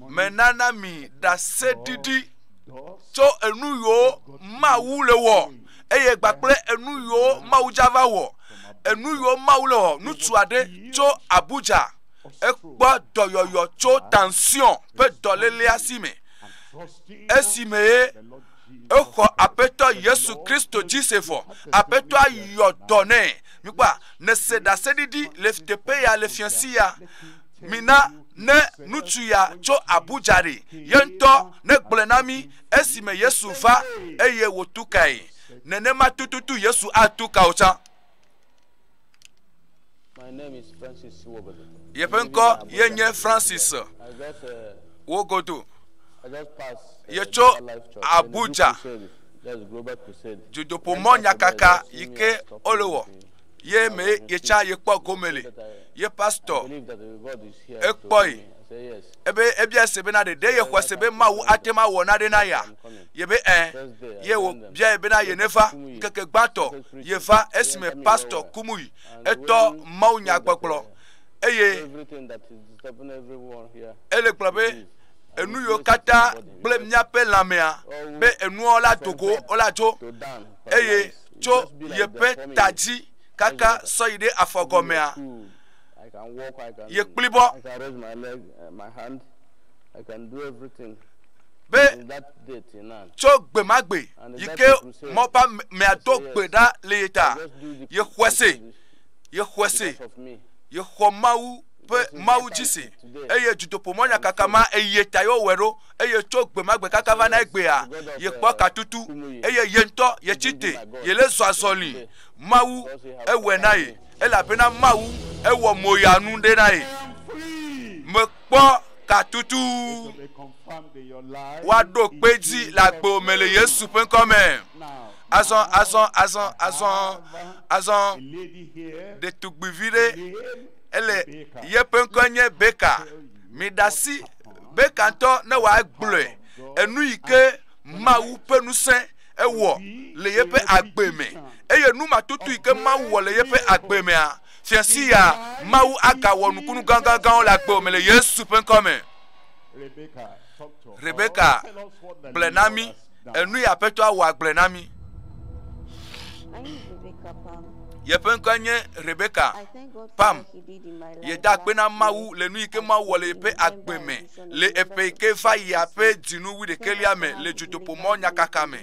Speaker 1: menana mi ɖaseɖiɖi tso enu yiwo mawu le wɔ eye gba kple enu yiwo Mawu dza va wɔ, enu yiwo Mawu le wɔ. Ŋutsu aɖe tso Abuja, ekpɔ dɔyɔyɔ tso tension ƒe dɔlélea si me, esi me ye exɔ Aƒetɔ Yesu Kristo dzi se vɔ. Aƒetɔa yɔ dɔ nɛ. Mikpɔa, nèse ɖaseɖiɖi le teƒe ya le fiasi ya. Mina ne ŋutsu ya tso Abuja ɖi, ye ŋutɔ negblɔe na mí. esime Yesu va eye wòtu kae, nenema tututu Yesu atu ka wò tsã.
Speaker 3: Yeƒe ŋkɔ
Speaker 1: ye nye Francis Wogodo.
Speaker 3: Yetso
Speaker 1: Abuja,
Speaker 3: dzodoƒomɔ nyakaka
Speaker 1: yi ke wole wɔ. ye mee yetsã yekpɔ gome le ye pastor ekpɔe ebe ebia se bena ɖeɖe yexɔ se be mawu ate ma wɔ naɖe na ya yebe ɛ ye wòbia ye bena ye neva ŋkeke gbãtɔ yeva esime pastor kumui etɔ mawu nyagbɔgblɔ eye
Speaker 3: ele gblɔ be
Speaker 1: enu yiwo katã gblẽ míaƒe lãmea be enuwo la do go wola dzo eye tso yeƒe ta dzi kaka sɔ yi ɖe afɔ gɔmea.
Speaker 3: Yekpli bɔ. Be tso gbe ma gbe
Speaker 1: yi ke mɔba mea do gbe ɖa le ye ta. Yexɔe se. Yexɔe se.
Speaker 3: Yexɔ Mawu
Speaker 1: ƒe Mawu dzi se. Eye dzidoƒomɔnyakaka ma eye ta yewɔe ɖo. eye tso gbe ma gbe kaka va na egbea, yekpɔ katutu, eye ye ŋutɔ yetsi te, yele zɔ azɔli. Mawu ewɔe na ye, elabena Mawu ewɔ moyanu ɖe na ye. Mekpɔ katutu woaɖo kpe dzi le agbo me le Yesu ƒe ŋkɔ me. Azɔ, azɔ, azɔ, azɔ, azɔ, ɖetugbuivi ɖe ele yeƒe ŋkɔ nye Beka. Miɖasi be kantɔ ne wòagblɔe enu yi ke Mawu ƒe ŋusẽ ewɔ le yeƒe agbe me eye nu matutu yi ke Mawu wɔ le yeƒe agbe mea, fiasi ya Mawu agawɔ nukunu gãgãgãwo le agbe me le Yesu ƒe ŋkɔ me. Rebeka gblɔ na mí
Speaker 4: Enue
Speaker 1: Aƒetɔa wɔ
Speaker 4: agblɔe na mi.
Speaker 1: Yeƒe ŋkɔe nye Rebeka Pam. Yeda akpe na Mawu le nu yi ke Mawu wɔ le yeƒe agbe me le eƒe yi ke va yia ƒe dzinu wu ɖekɛlia me le dzodoƒo mɔ nyakaka me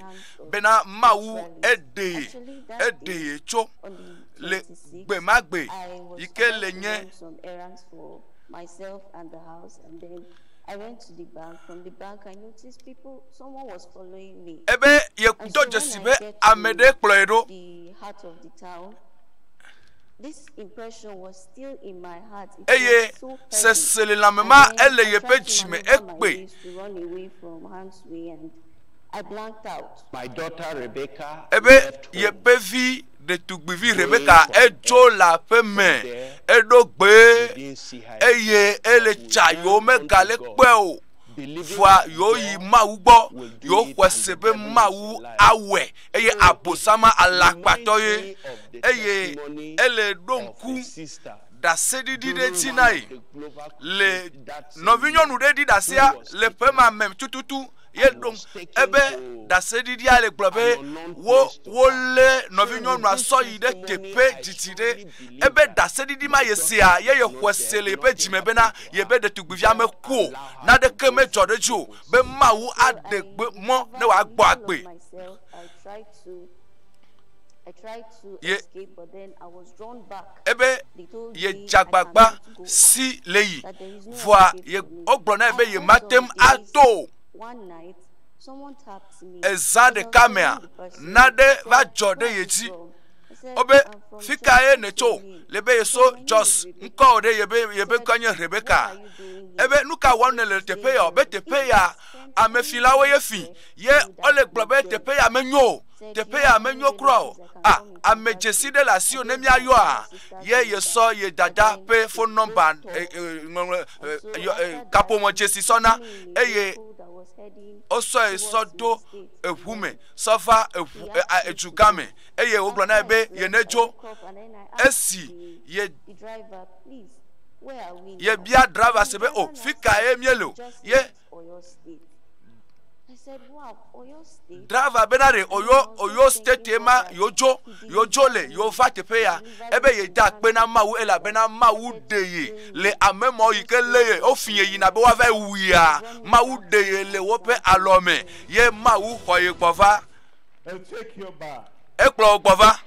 Speaker 1: bena Mawu eɖee eɖee tso le gbe ma gbe yi ke le nye
Speaker 4: Ebe yedo
Speaker 1: dzesi be ame ɖe kplɔe ɖo.
Speaker 4: Eye
Speaker 1: seselelãme ma ele yeƒe dzi me ekpe.
Speaker 4: Ebe
Speaker 3: yeƒe
Speaker 1: vi. ɖetugbivi Rebeka edzo le aƒe me, eɖo gbe eye ele tsa yewo megale kpɔe o. Vɔa yewo yi Mawu gbɔ, yewo xɔe se be Mawu awɔe eye abosama alakpatɔ ye eye ele ɖo ŋku ɖaseɖiɖi ɖe dzi na ye le nɔvinyɔnu ɖe ɖi ɖasea le ƒe ma me tututu. ye ɖom ebe ɖaseɖiɖia le gblɔ be wo wolé nɔvinyɔnua sɔ yi ɖe teƒe didi ɖe ebe ɖaseɖiɖi ma ye sea ye yexɔe se le yeƒe dzime bena yebe ɖetugbivia meku o naɖeke medzɔ ɖe edzi o be mawu aɖe gbe mɔ ne wòagbɔ agbe
Speaker 4: ye ebe
Speaker 1: yedze agbagba si le yi vɔa wogblɔ nae be yemate ŋu ato o.
Speaker 4: Eza ɖeka mea,
Speaker 1: naɖe va dzɔ ɖe ye dzi. Wobe fi ka ye nètso? Le be yeso Jos ŋkɔ ɖe yebe yebe ŋkɔ nye Rebeka. Ebe nu ka wɔm nèle teƒe ya? Be teƒe ya amefilawo ye fi ye wole gblɔ be teƒe ya menyo o. teƒe ya menyo kura o a ame dzesi ɖe le asiwò ne míayɔa ye yesɔ ye dada ƒe phone number ŋɔŋlɔ kaƒomɔ dzesi sɔna eye wosɔe sɔ do eʋu me sɔ va eʋu edugã me eye wogblɔ na ye be ye ne dzo esi ye yebia driver se be o oh, fi ka ye míele o ye
Speaker 4: Driver be na ɖe Oyo
Speaker 1: Oyo state ma yewodzo yewodzo le yewova teƒe ya ebe yeda akpe na Mawu elabena Mawu ɖe ye le ame mɔ yi ke lé ye wofi ye yina be woava wuia Mawu ɖe ye le woƒe alɔ me ye Mawu xɔ ye gbɔ va.
Speaker 2: Ekplɔ wo gbɔ va.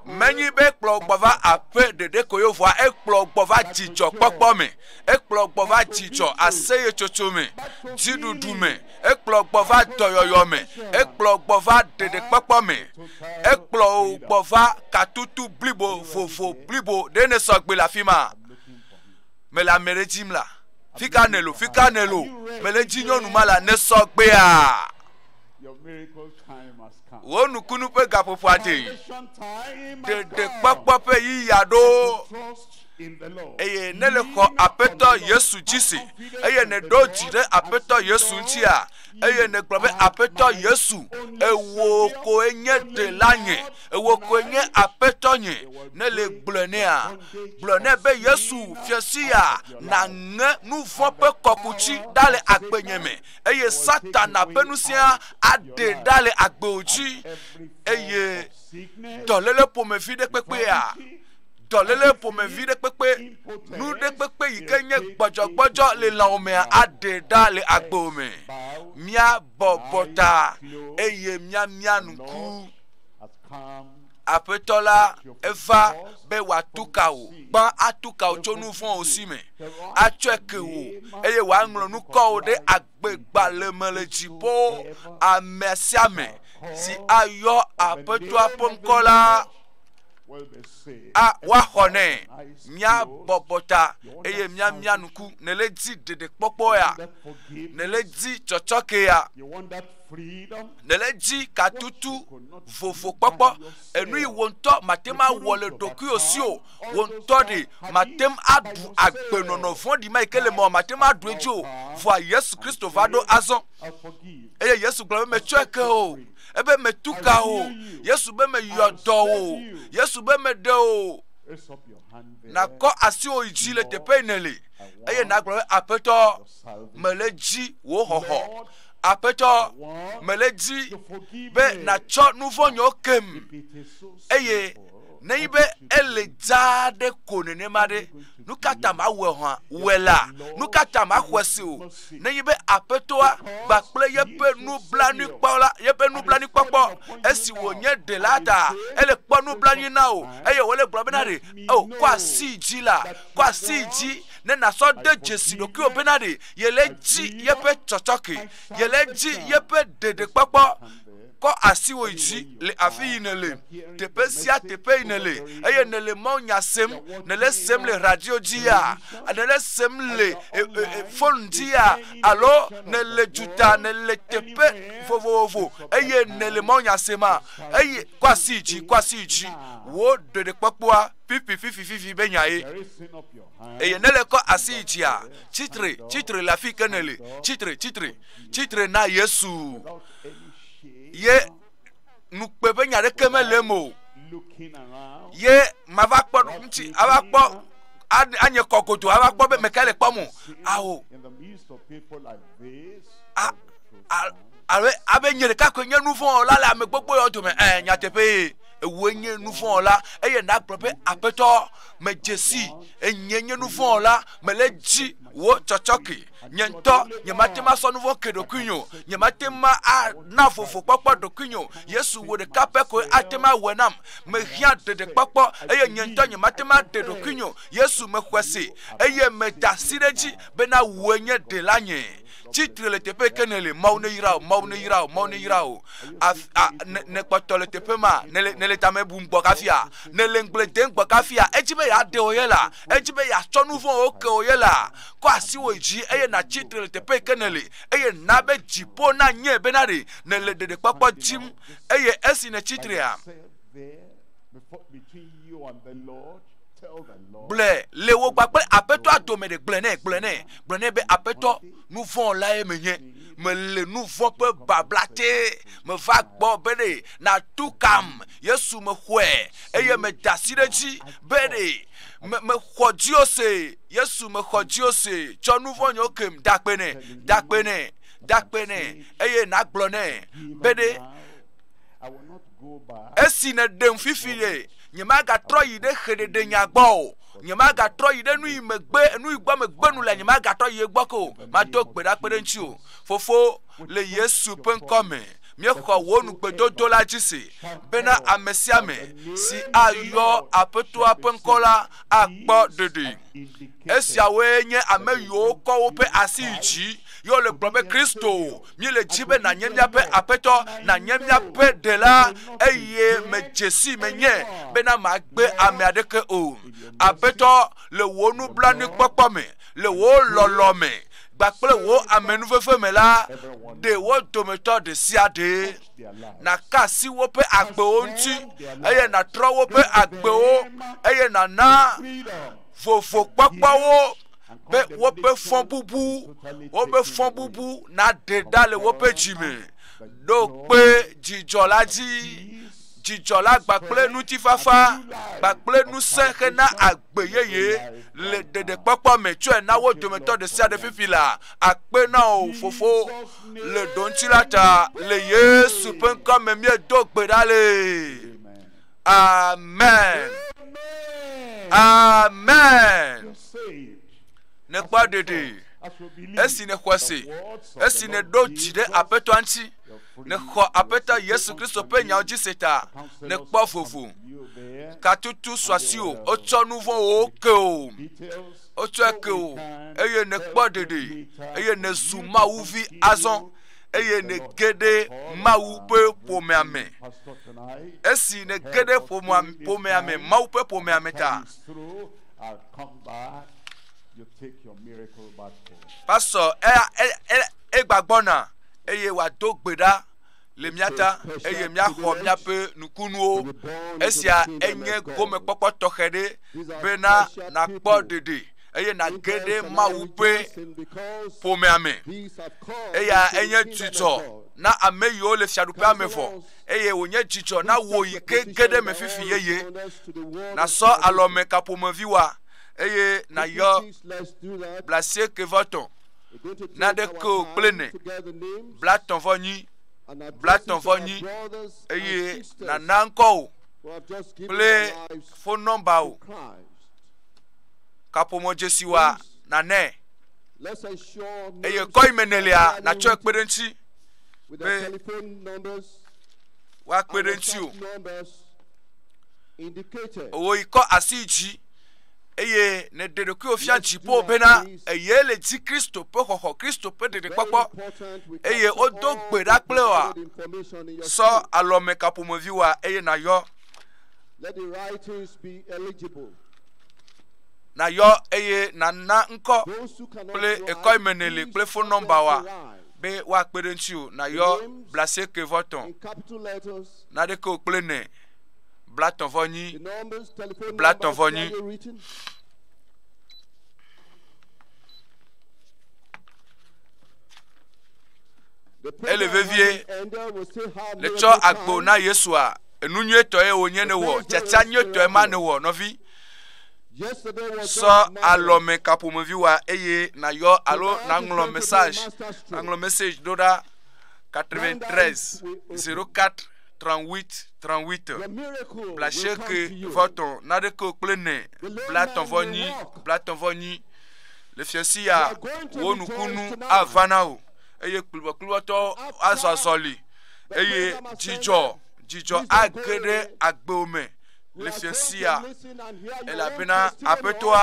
Speaker 2: Menyi be ekplɔ wo
Speaker 1: gbɔ va aƒe ɖeɖe ko yevua, ekplɔ wo gbɔ va dzidzɔkpɔkpɔ me. Ekplɔ wo gbɔ va dzidzɔ aseyetsotso me, dziɖuɖu me. Ekplɔ wo gbɔ va dɔyɔyɔ me. Ekplɔ wo gbɔ va ɖeɖekpɔkpɔ me. Ekplɔ wo gbɔ va katutu blibo vovo blibo ɖe ne sɔgbe le afi ma. Mele ame ɖe dzim la. Fika nelo, fika nelo. Mele dzi nyɔnu ma la ne sɔgbea.
Speaker 2: wò nukunu ƒe
Speaker 1: gaƒoƒoa te ɖeɖekpɔkpɔ ƒe yiya ɖo
Speaker 2: eye ne le xɔ
Speaker 1: aƒetɔ yesu dzi si eye ne ɖo dzi ɖe aƒetɔ yesu ŋutia eye ne gblɔ be aƒetɔ yesu ewo koe nye ɖela nye ewo koe nye aƒetɔ nye ne le gblɔ nea gblɔ ne be yesu fiasia na ŋe nu vɔ ƒe kɔkuti ɖa le agbenye me eye Satana ƒe nusia aɖe ɖa le agbeo dzi eye dɔléle ƒomevi ɖe kpekpea dɔléle ƒomevi ɖe kpekpe nu ɖe kpekpe yi ke nye gbɔdzɔgbɔdzɔ le lãwo mea aɖe ɖa le agbeo me míabɔbɔ ta eye míamia ŋku Aƒetɔ la eva be wòatu ka wò, gbã atu ka wò tso nu vɔ̃wo si me, atsɔe ke wò, eye wòaŋlɔ nukɔwo ɖe agbegbalẽ me le dziƒo. Ame sia ame si ayɔ Aƒetɔa ƒe ŋkɔ la, a woaxɔ nɛ. Míabɔbɔ ta eye míamia nuku. Nèle di ɖeɖekpɔkpɔ ya? Nèle di tsɔtsɔke ya? Nèle edzi katutu vovo kpɔkpɔ, enui wò ŋutɔ màte ŋu awɔ le ɖokuiwò si o. Wò ŋutɔ ɖe màte ŋu aɖu agbenɔnɔ vɔ̃ɖi ma yi ke le emea o, màte ŋu aɖu edzi o. Vɔa Yesu Kristo va ɖo azɔ. Eye Yesu gblɔ be, Metsɔe ke wò. Ebe, Metu ka wò. Yesu be, Meyɔ dɔ wò. Yesu be, Meɖe wò. Nàkɔ asiwò yi dzi le teƒe yi nèle, eye nàgblɔ be, Aƒetɔ, mele edzi wò xɔxɔ. Aƒetɔ, mele dzi be nàtsɔ nu vɔ̃ nyɔ kem, eye nenyi be ele dzaa ɖe ko nenema ɖe, nu ka ta mawɔe hã wɔe la? Nu ka ta maxɔe se o? Nenyi be aƒetɔa gba kple yeƒe nublanuikpɔla, yeƒe nublanuikpɔkpɔ, esi wònye ɖela ta, ele kpɔ nublanui na o, eye wòle gblɔ bena ɖe, o, kɔ asi dzi la, kɔ asi dzi ne nàsɔ de dzesi ɖokuiwò bena ɖe yele dzi yeƒe tsɔtsɔke, yele dzi yeƒe ɖeɖekpɔkpɔ. Kɔ asiwò yi dzi le afi yi nèle, teƒe sia teƒe yi nèle, eye nèle mawunya sem, nèle sem le radio dzia, nèle sem le e, e, e, fon dzia, alo nèle duta, nèle teƒe vovovo, eye nèle mawunya sema, eye kɔ asi yi dzi, kɔ asi yi dzi, wò ɖeɖekpɔkpɔa fifififififi be nyae. eye ne le kɔ asi yi dzia, tsi tre, tsi tre le afi ke nèle, tsi tre, tsi tre, tsi tre na Yesu. Ye nukpe ƒe nya ɖeke mele eme o. Ye mava kpɔ ŋuti, ava kpɔ anye kɔ godo, ava kpɔ be meka le kpɔm o. Ao. A, a, abe, abe nye ɖeka koe nye nu vɔ̃ la le ame gbogbo yawo dome. Ɛɛ, nyateƒee. ewòe nye nuvɔ̃la, eye nàgblɔ be, Aƒetɔ, medze si, enyee nye nuvɔ̃la, mele edzi wò tsɔtsɔke. Nye ŋutɔ nyemate ŋu asɔ nuvɔ̃ ke ɖokuinye o, nyemate ŋu ana vovo kpɔkpɔ ɖokuinye o, Yesu wò ɖeka pɛ koe ate ŋu awɔe nam. Mehiã ɖeɖekpɔkpɔ eye nye ŋutɔ nyemate ŋu aɖe ɖokuinye o. Yesu, mexɔe se eye meda asi ɖe edzi bena wòe nye Ɖelanye. Tsi tre le teƒe yi ke nèle. Mawu neyra wò, Mawu neyra wò, Mawu neyra wò. Afi, a, ne, nèkpɔtɔ le teƒe ma, nèle, nèle tame bum gbɔ kafia, nèle ŋugble dem gbɔ kafia, edzi be yeaɖe wò ye la, edzi be yeatsɔ nu vɔ̃wo ke wò ye la, kɔ asiwò yi dzi eye nàtsi tre le teƒe yi ke nèle, eye na be dziƒo nanyɔe bena ɖe nèle ɖeɖekpɔkpɔ dim. Eye esi nètsi trea, gblɔe le wò gba kple aƒetɔa dome ɖe gblɔe nɛ gblɔe nɛ gblɔe nɛ be aƒetɔ nu vɔ̃ lae menye mele nu vɔ̃ ƒe babla te meva gbɔ be ɖe natu kam yesu mexɔe eye meda asi ɖe edzi be ɖe mexɔ diose yesu mexɔ diose tsɔ nu vɔ̃ nyewo kem dakpe nɛ dakpe nɛ dakpe nɛ eye nagblɔ nɛ be ɖe Esi nèɖem fifie, nyemagatrɔ yi ɖe xeɖeɖenya gbɔ o. Nyemagatrɔ yi ɖe nu yi megbe, nu yi gbɔ megbe nu le, nyemagatrɔ yi egbɔ ko. Mado gbe ɖa kpe ɖe ŋuti o. Fofo, le Yesu ƒe ŋkɔ me, míexɔ wò nugbedodo la dzi se bena ame sia ame si ayɔ Aƒetɔa ƒe ŋkɔ la akpɔ ɖeɖe. Esiawoe nye ame yiwo kɔ woƒe asi yi dzi ye wole gblɔm be, Kristo, míele dzi be nànye míaƒe aƒetɔ nànye míaƒe ɖela eye medze si menye bena magbe ame aɖeke o aƒetɔ le wò nublanuikpɔkpɔ me le wò lɔlɔ me kpakple wò amenuveve me la ɖe wo dometɔ ɖe sia ɖe nàka asi woƒe agbewo ŋuti eye nàtrɔ woƒe agbewo eye nàna vovokpɔkpɔwo be woƒe fɔbubu woƒe fɔbubu naɖe ɖa le woƒe dzi me ɖo kpe dzidzɔ la dzi dzidzɔ la gbakple ŋutifafa gbakple ŋusẽ hena agbe yeye le ɖeɖekpɔkpɔ me tsɔe na wo dometɔ ɖe sia ɖe fifi la akpe na o fofo le ɖoŋti la ta le yesu ƒe ŋkɔ me míedo gbe ɖa lee Amen. Amen. Nèkpɔ ɖeɖe. Esi nèxɔ se, esi nèɖo dzi ɖe aƒetɔ ŋuti, nèxɔ aƒetɔ Yesu Kristo ƒe nyawo dzi se ta, nèkpɔ vovo. Katutu suasi o, wotsɔ nu vɔ̃wo ke o. Wotsɔe ke o, eye nèkpɔ ɖeɖe, eye nèzu Mawu vi azɔ. eye nège ɖe Mawu ƒe ƒomea me. Esi nège ɖe ƒomea me, Mawu ƒe ƒomea me ta.
Speaker 2: Pasɔ
Speaker 1: egbagbɔna eye wòado gbe ɖa le mía ta eye míaxɔ míaƒe nukunuwo. Esia enye gomekpɔkpɔ tɔxɛ ɖe bena nàkpɔ ɖeɖe. eye nàge ɖe Mawu ƒe ƒomea me. Eya enye dzidzɔ na ame yiwo le fiaɖuƒea me vɔ, eye wònye dzidzɔ na wò yi ke ge ɖe me fifi yeye. Nàsɔ alɔme ka ƒomevi wa, eye nàyɔ blasieke vɔ tɔ̃ na ɖeke o kple ne bla tɔ̃ vɔ nyi bla tɔ̃ vɔ nyi eye nàna ŋkɔ o
Speaker 2: kple fon nɔmba o.
Speaker 1: kaƒomɔ dzesiwoa nanɛ
Speaker 2: eye kɔ yi me nèlia natsɔe
Speaker 1: kpe ɖe eŋuti be
Speaker 2: woakpe
Speaker 1: ɖe eŋuti o
Speaker 2: owó yi kɔ
Speaker 1: asi yi dzi eye nèɖe ɖokuiwò fia dziƒo bena eye le di kristo ƒe xɔxɔ kristo ƒe ɖeɖekpɔkpɔ eye
Speaker 2: wodo gbe ɖa
Speaker 1: kple wa
Speaker 2: sɔ alɔme
Speaker 1: kaƒomevi wa eye nayɔ na yɔ eye na na ŋkɔ kple
Speaker 2: ekɔ yi me ne le
Speaker 1: kple
Speaker 2: fon
Speaker 1: nɔmba wa
Speaker 2: be
Speaker 1: woakpe
Speaker 2: ɖe ŋuti
Speaker 1: o na yɔ blase ke vɔ tɔn
Speaker 2: na ɖe ke o kple ne
Speaker 1: bla tɔn vɔ nyi bla
Speaker 2: tɔn vɔ nyi. ele vevie le tsɔ agbo na
Speaker 1: yesua. Enu nyuitɔe wònye ne wɔ tsatsa nyuitɔe ma ne wɔ nɔvi.
Speaker 2: Sɔ alɔme kaƒomevi
Speaker 1: wa eye nayɔ alo naŋlɔ message naŋlɔ message ɖo ɖa 93 04 38 38 bla
Speaker 2: sheke
Speaker 1: vɔtɔ naɖeke
Speaker 2: o
Speaker 1: kple ne bla tɔvɔ nyi bla tɔvɔ nyi le fiasi ya wo nukunu avana o eye kplibɔkplibɔtɔ azɔ azɔli. eye dzidzɔ dzidzɔ age ɖe agbewo me le fiasia elabena aƒetɔa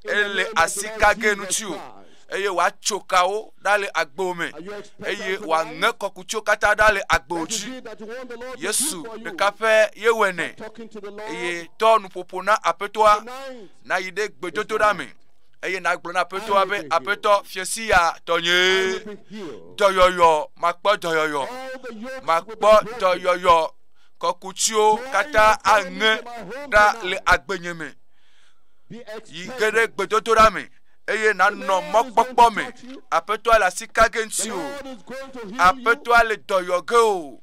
Speaker 1: ele asi kage ŋuti o eye wòatso kawo ɖa le agbewo me eye wòaŋe kɔkutso katã ɖa le agbewo dzi yesu ɖeka ƒe yewɔe nɛ eye tɔ nuƒoƒo na aƒetɔa nayi ɖe gbedodoɖa me eye nagblɔ na aƒetɔa be aƒetɔ fiesi ya tɔnye dɔyɔyɔ makpɔ dɔyɔyɔ makpɔ dɔyɔyɔ kɔkutsiwo katã aŋe ɖa le agbenye me yi ge ɖe gbedodoɖa me eye nanɔ mɔkpɔkpɔ me aƒetɔa le asi ka ge ŋuti o aƒetɔa le dɔyɔ ge o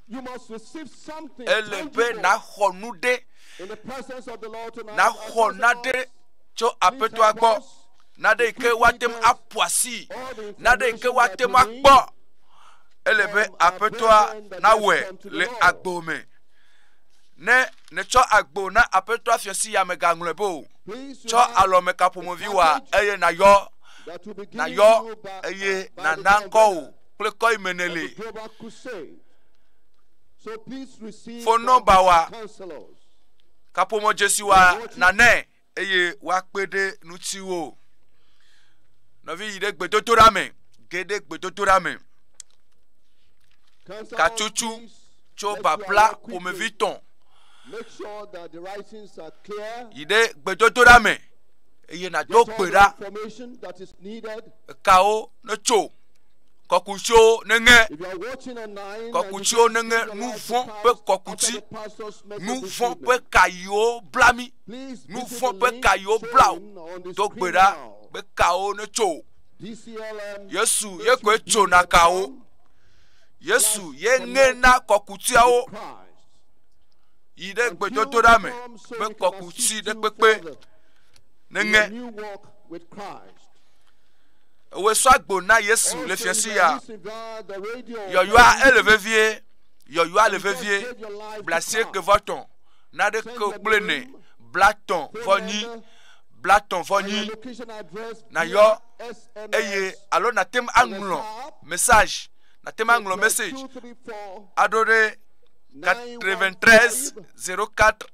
Speaker 2: ele be naxɔ
Speaker 1: nu
Speaker 2: ɖe naxɔ na ɖe
Speaker 1: tso
Speaker 2: Aƒetɔa
Speaker 1: gbɔ, naɖe yi ke woate ŋu aƒu asii, naɖe yi ke woate ŋu akpɔ. Ele be Aƒetɔa nawɔe le agbo me. Ne nètsɔ agbo na Aƒetɔa fiasi ya mègaŋlɔe be o. Tsɔ
Speaker 2: alɔmekaƒomevi wa
Speaker 1: eye nàyɔ, nàyɔ eye
Speaker 2: nàna
Speaker 1: ŋkɔ wò
Speaker 2: kple kɔ
Speaker 1: yi me nèle.
Speaker 2: Fon nɔmba wa. kaƒomɔ
Speaker 1: dzesi wa nane eye woakpe ɖe ŋutiwo. Nɔvi yi ɖe gbedodoɖa me, ge ɖe gbedodoɖa me.
Speaker 2: Katsotso
Speaker 1: tso
Speaker 2: babla ƒomevi
Speaker 1: tɔn.
Speaker 2: Yi ɖe gbedodoɖa
Speaker 1: me eye nado gbe ɖa.
Speaker 2: Ekawo
Speaker 1: netso. kɔkutio neŋe
Speaker 2: kɔkutio neŋe
Speaker 1: nu vɔ̃ ƒe kɔkuti nu vɔ̃ ƒe ka yiwo bla mi nu vɔ̃ ƒe ka yiwo bla o do gbe ɖa be kawo netso o yesu ye koe tsona kawo yesu ye ŋe na kɔkutiawo yi ɖe gbedodoɖa me be kɔkuti ɖe kpekpe neŋe Ewe sɔ agbo na Yesu le fiɔ si ya. Yɔyɔa ele vevie. Yɔyɔa le vevie. Blasie ke vɔ tɔn. Na ɖe ke o kple ne. Bla tɔn vɔ nyi. Bla tɔn vɔ nyi. Na yɔ eye alo na tem aŋlɔ message. Na tem aŋlɔ message. Aɖo ɖe 93 04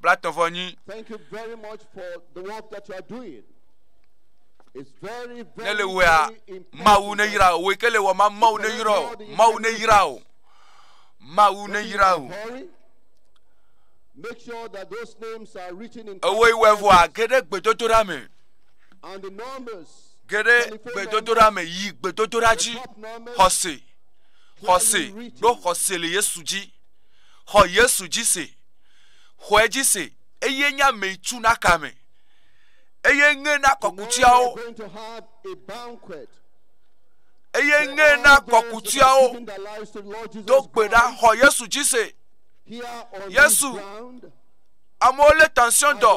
Speaker 1: blatɔ̃ vɔ nyi.
Speaker 2: Ne le wea,
Speaker 1: Mawu ne
Speaker 2: yra o, wò
Speaker 1: ke le wɔ ma, Mawu ne yra o, Mawu ne yra o, Mawu ne yra
Speaker 2: o. Ewoe wɔ vɔa ge
Speaker 1: ɖe gbedodoɖa
Speaker 2: me. Ge ɖe
Speaker 1: gbedodoɖa me yi gbedodoɖa dzi xɔse xɔse ɖo xɔse le Yesu dzi xɔ Yesu dzi se. xɔe dzi se, eye nye amee tu na ka me, eye ŋe na kɔkutiawo, eye ŋe na kɔkutiawo
Speaker 2: do gbe ɖa xɔ Yesu
Speaker 1: dzi se.
Speaker 2: Yesu, amewo lé
Speaker 1: tension dɔ,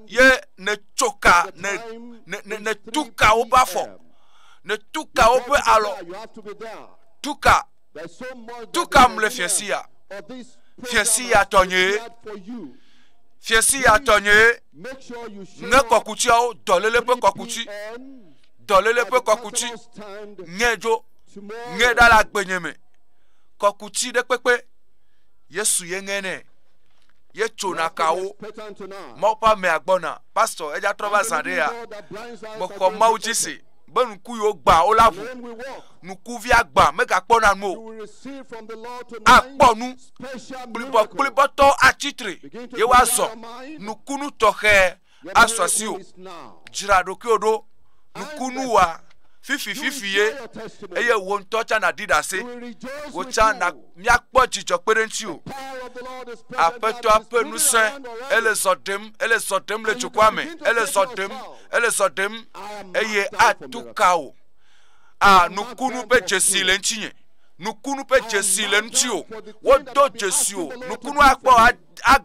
Speaker 2: ye ne
Speaker 1: tsoka, ne,
Speaker 2: ne, ne, ne tuka
Speaker 1: woƒe
Speaker 2: afɔ,
Speaker 1: ne
Speaker 2: tuka
Speaker 1: woƒe alɔ,
Speaker 2: tuka Tu kam le fia si ya. Fia si ya tɔ nye. Fia si ya
Speaker 1: tɔ nye.
Speaker 2: Ne kɔkutiawo dɔlele
Speaker 1: ƒe kɔkuti.
Speaker 2: Dɔlele ƒe
Speaker 1: kɔkuti. Nye
Speaker 2: dzo.
Speaker 1: Nye ɖa
Speaker 2: le agbenye me.
Speaker 1: Kɔkuti ɖe kpekpe. Yesu ye ŋe ne. Ye tso na kawo.
Speaker 2: Mɔƒa mea gbɔna.
Speaker 1: Pastor eja trɔ va zã ɖe ya. Mɔkɔ
Speaker 2: mawu dzi si.
Speaker 1: be
Speaker 2: nuku
Speaker 1: yiwo
Speaker 2: gbã
Speaker 1: wo la ʋu.
Speaker 2: Nukuvia gbã
Speaker 1: megakpɔna nu o.
Speaker 2: Akpɔ nu kplibɔkplibɔtɔ
Speaker 1: atsi tre, ye woazɔ nukunu
Speaker 2: tɔxɛ
Speaker 1: asɔ asiwò. Dzra
Speaker 2: ɖokuiwò ɖo
Speaker 1: nukunu wa fifififiye,
Speaker 2: eye wò ŋutɔ tsã
Speaker 1: nàɖi ɖase. Wò tsã
Speaker 2: na
Speaker 1: míakpɔ dzidzɔ
Speaker 2: kpe ɖe
Speaker 1: ŋutiwò.
Speaker 2: Aƒetɔa ƒe ŋusẽ
Speaker 1: ele
Speaker 2: zɔ ɖem, ele zɔ
Speaker 1: ɖem le dukɔa me, ele
Speaker 2: zɔ
Speaker 1: ɖem. ele
Speaker 2: zɔ
Speaker 1: ɖem eye
Speaker 2: atu ka
Speaker 1: wò. A nukunu ƒe dzesi le ŋutinye. Nukunu ƒe dzesi le ŋuti o. Wodo dzesi o. Nukunu akpɔ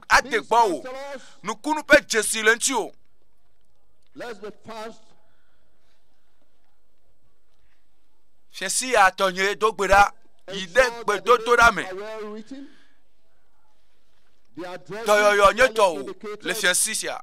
Speaker 1: ade gbɔ o. Nukunu ƒe dzesi le ŋuti o. Fiasi ya tɔnye do gbe ɖa yi ɖe gbedodoɖa me.
Speaker 2: Dɔyɔyɔ nye tɔ o le
Speaker 1: fiasi
Speaker 2: sia.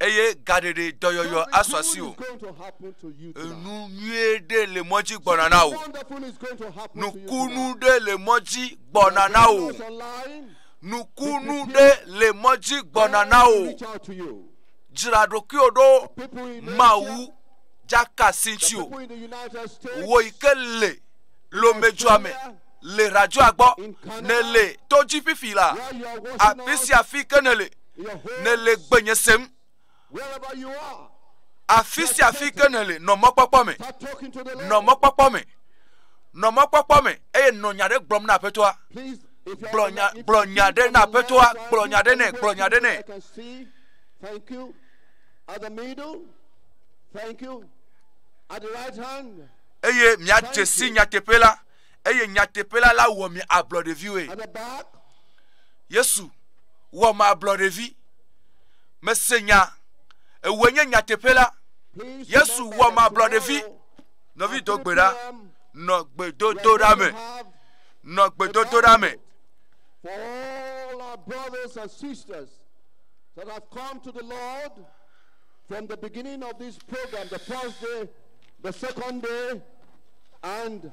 Speaker 1: eye gaɖeɖe dɔyɔyɔ asu asi o.
Speaker 2: Enu nyuie ɖe
Speaker 1: le mɔ dzi gbɔna na wò.
Speaker 2: Nukunu ɖe le mɔ
Speaker 1: dzi gbɔna na wò.
Speaker 2: Nukunu
Speaker 1: ɖe le mɔ dzi gbɔna na wò.
Speaker 2: Dzra ɖokuiwò
Speaker 1: ɖo Mawu
Speaker 2: dzaka si
Speaker 1: ŋuti o.
Speaker 2: Wò yi ke le
Speaker 1: lomedzua me le radioa gbɔ ne le to dzi fifi la afi
Speaker 2: sia afi ke ne
Speaker 1: le. nèle
Speaker 2: gbenye
Speaker 1: sem.
Speaker 2: Afi sia afi
Speaker 1: ke nèle, nɔ mɔkpɔkpɔ me. Nɔ
Speaker 2: mɔkpɔkpɔ me.
Speaker 1: Nɔ mɔkpɔkpɔ me eye nɔ nya ɖe gblɔm na aƒetɔa. Gblɔ
Speaker 2: nya gblɔ nya ɖe
Speaker 1: na
Speaker 2: aƒetɔa,
Speaker 1: gblɔ
Speaker 2: nya ɖe
Speaker 1: nɛ, gblɔ
Speaker 2: nya ɖe nɛ. Thank you. At the middle. Thank you. At the right hand. Eye miadze
Speaker 1: si nyateƒe la. eye nyateƒe la la wɔ mi ablɔɖeviwoe.
Speaker 2: Yesu
Speaker 1: wɔ ma ablɔɖevi. Mese nya, ewoe nye nyateƒe la. Yesu
Speaker 2: wɔ ma
Speaker 1: ablɔɖevi. Nɔvi
Speaker 2: do gbe
Speaker 1: ɖa, nɔ
Speaker 2: gbedodoɖa me,
Speaker 1: nɔ gbedodoɖa me.
Speaker 2: all our brothers and sisters that have come to the Lord from the beginning of this program, the first day, the second day, and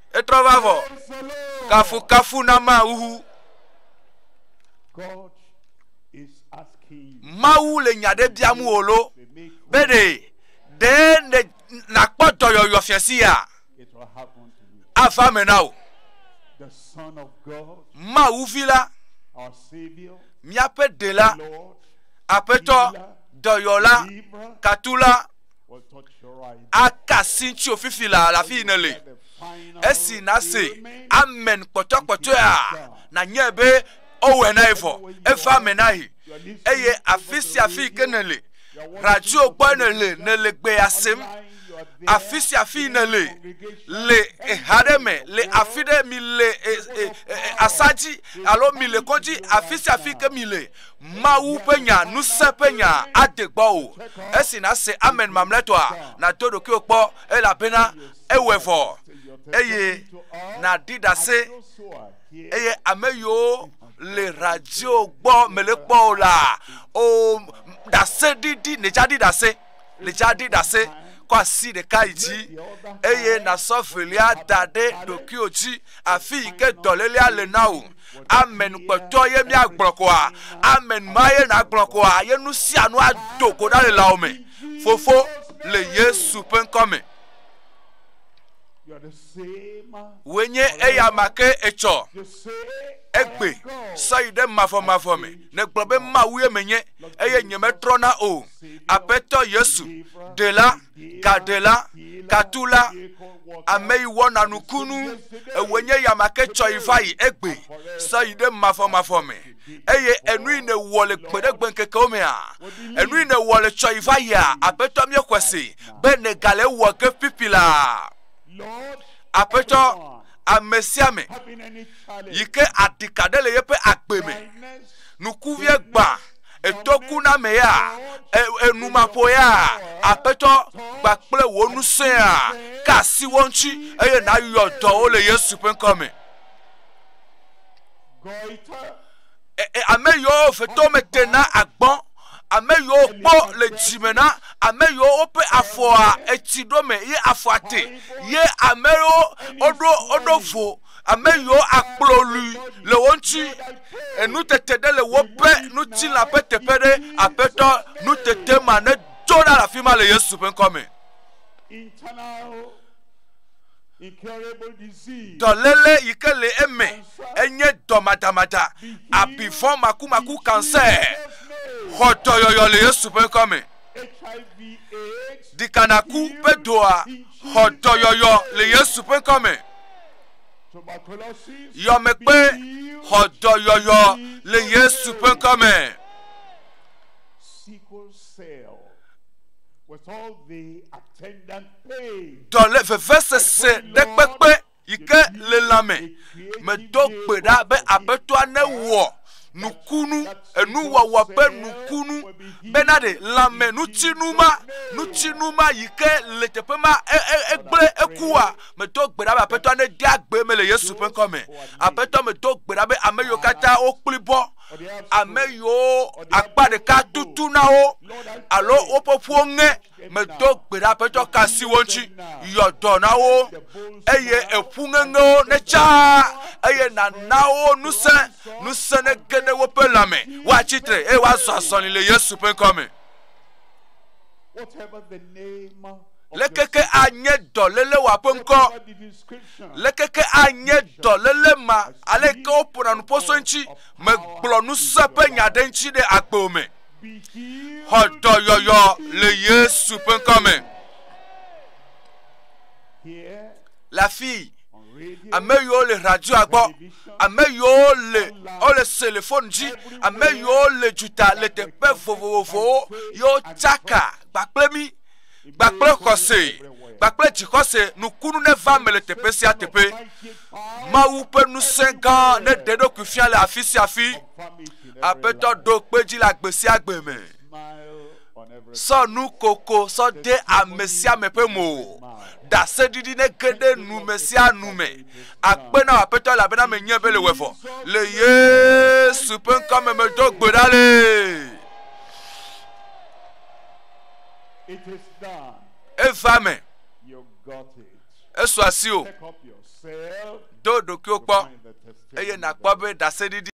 Speaker 1: Etrɔ va vɔ. Kafu kafu na ma uhu.
Speaker 5: Mawu le nya ɖe biam
Speaker 1: wò lo be ɖe ɖe nàkpɔ dɔyɔyɔ fiasi ya
Speaker 5: ava me na wò. Mawu vi la, míaƒe ɖela, aƒetɔ,
Speaker 1: dɔyɔla, katula,
Speaker 5: aka asi ŋutiwò
Speaker 1: fifi la le afi yi nèle.
Speaker 5: Esi nàse
Speaker 1: amen
Speaker 5: kpɔtɔkpɔtɔea,
Speaker 1: nànyae be ewɔe na ye vɔ, eva eme na ye. Eye afi sia afi yi ke nèle, radio gbɔ nèle, nèle gbea sem, afi sia afi yi nèle, le eha ɖe me, le afi ɖe mi le e, e, e, e, asadzi alo mi le kɔdzi, afi sia afi ke mi le, Mawu ƒe nya, ŋusẽ ƒe nya ade gbɔwò. Esi nàse amen mamlɛtɔa, nàdo ɖokuiwò kpɔ, elabena ewɔe vɔ. Eye nàɖi ɖase, eye ame yiwo le radio gbɔ mele kpɔ o la, o, ɖaseɖiɖi, nèdza ɖi ɖase. Lidza ɖi ɖase, kɔ asi ɖeka yi dzi, eye nàsɔ velia da ɖe ɖokuiwò dzi, afi yi ke dɔlélea le na wò. Amen kpɔtɔ ye míagblɔ koa? Amen ma ye nàgblɔ koa? Ye nu sia nu ado go ɖa le lãwò me. Fofo, le Yesu ƒe ŋkɔ me. Wòe nye eya ma ke etsɔ egbe sɔ yi ɖe mavɔmavɔ me, nègblɔ be Mawu ye menye. eye nyemetrɔna o. Aƒetɔ Yesu, ɖela, gaɖela, katula, ame yi wɔna nukunu, ewoe nye yama ke tsɔ yi va yi egbe, sɔ yi ɖe mafɔmafɔ me. Eye enu yi nèwɔ le gbeɖegbe ŋkekewo mea, enu yi nèwɔ le tsɔ yi va yia, aƒetɔ míexɔe se be nègale wɔ ke pipi la. Aƒetɔ, ame sia ame yi ke aɖika ɖe le yeƒe agbe me, nukuvia gbã, etɔkunamea, enumaƒoea, Aƒetɔ, gba kple wò ŋusẽa, ka asi wo ŋuti, eye nàyɔ dɔwo le Yesu ƒe ŋkɔ me. E, e, ame yiwo fetome te na agbɔ, ame yiwo kpɔ le dzime na, ame yiwo woƒe afɔa etsi ɖo me ye afɔa te, ye ame yiwo woɖo woɖo vo ame yiwo akplɔ lui le wo ŋuti. Enutete ɖe le woƒe ŋutilã ƒe teƒe ɖe aƒetɔ nutete ma ne do ɖa le afi ma le Yesu ƒe ŋkɔ me.
Speaker 5: Dɔléle yi ke
Speaker 1: le eme enye dɔmadamada, abifɔ makumaku kansɛ. Xɔ dɔyɔyɔ le Yesu ƒe ŋkɔ me.
Speaker 5: ɖikanaku ƒe
Speaker 1: doa xɔ dɔyɔyɔ le Yesu ƒe ŋkɔ me.
Speaker 5: Yɔmekpe
Speaker 1: xɔ dɔyɔyɔ le Yesu ƒe ŋkɔ
Speaker 5: me. Dɔle vevesese
Speaker 1: ɖe kpekpe yi ke le lãme medo gbe ɖa be Aƒetɔa newɔ nukunu, enuwɔwɔ ƒe nukunu, bena ɖe lãme nutinu ma, nutinu ma yi ke le teƒe ma e, e, egblẽ ekua, medo gbe ɖa be aƒetɔ nede agbe me le Yesu ƒe ŋkɔ me. Aƒetɔ medo gbe ɖa be ame yiwo katã wokpli bɔ, ame yiwo akpa ɖeka tutu na wo alo woƒe ƒuwo ŋe medo gbe ɖa ƒe tsɔ ka si wo ŋuti yɔ dɔ na wo eye eƒu ŋeŋewo ne tsa eye nana wo nusẽ nusẽ ne ge ɖe woƒe lãme woatsi tre eye woazɔ azɔli le yesu ƒe ŋkɔ me
Speaker 5: lekeke anye
Speaker 1: dɔléle wɔ ƒe ŋkɔ
Speaker 5: lekeke anye
Speaker 1: dɔléle ma aleke woƒona nuƒoso ŋuti megblɔ nusẽ ƒe nya ɖe ŋuti ɖe agbo me
Speaker 5: Xɔ dɔyɔyɔ
Speaker 1: le Yesu ƒe ŋkɔ me.
Speaker 5: Le afii,
Speaker 1: ame
Speaker 5: yiwo le radioa
Speaker 1: gbɔ, ame yiwo le wole telefoni dzi, ame yiwo le dzuta le teƒe vovovowo yewo tsaka kpakple mi kpakple xɔse kpakple dzixɔse nukunu ne va me le teƒe sia teƒe. Mawu ƒe ŋusẽ gã ne ɖe ɖokui fia le afi sia afi. Aƒetɔ ɖo kpe dzi le agbe sia agbe me. Sɔ nu koko sɔ de ame sia ame ƒe mo. Ɖaseɖiɖi nege ɖe nu me sia nu me. Akpe na Aƒetɔ elabena menye be le wefɔ. Le Yesu ƒe ŋkɔ me medo gbe ɖa le.
Speaker 5: Eva me. Esu asi o.
Speaker 1: Do ɖokuiwo kpɔ eye nakpɔ
Speaker 5: be
Speaker 1: ɖaseɖiɖi.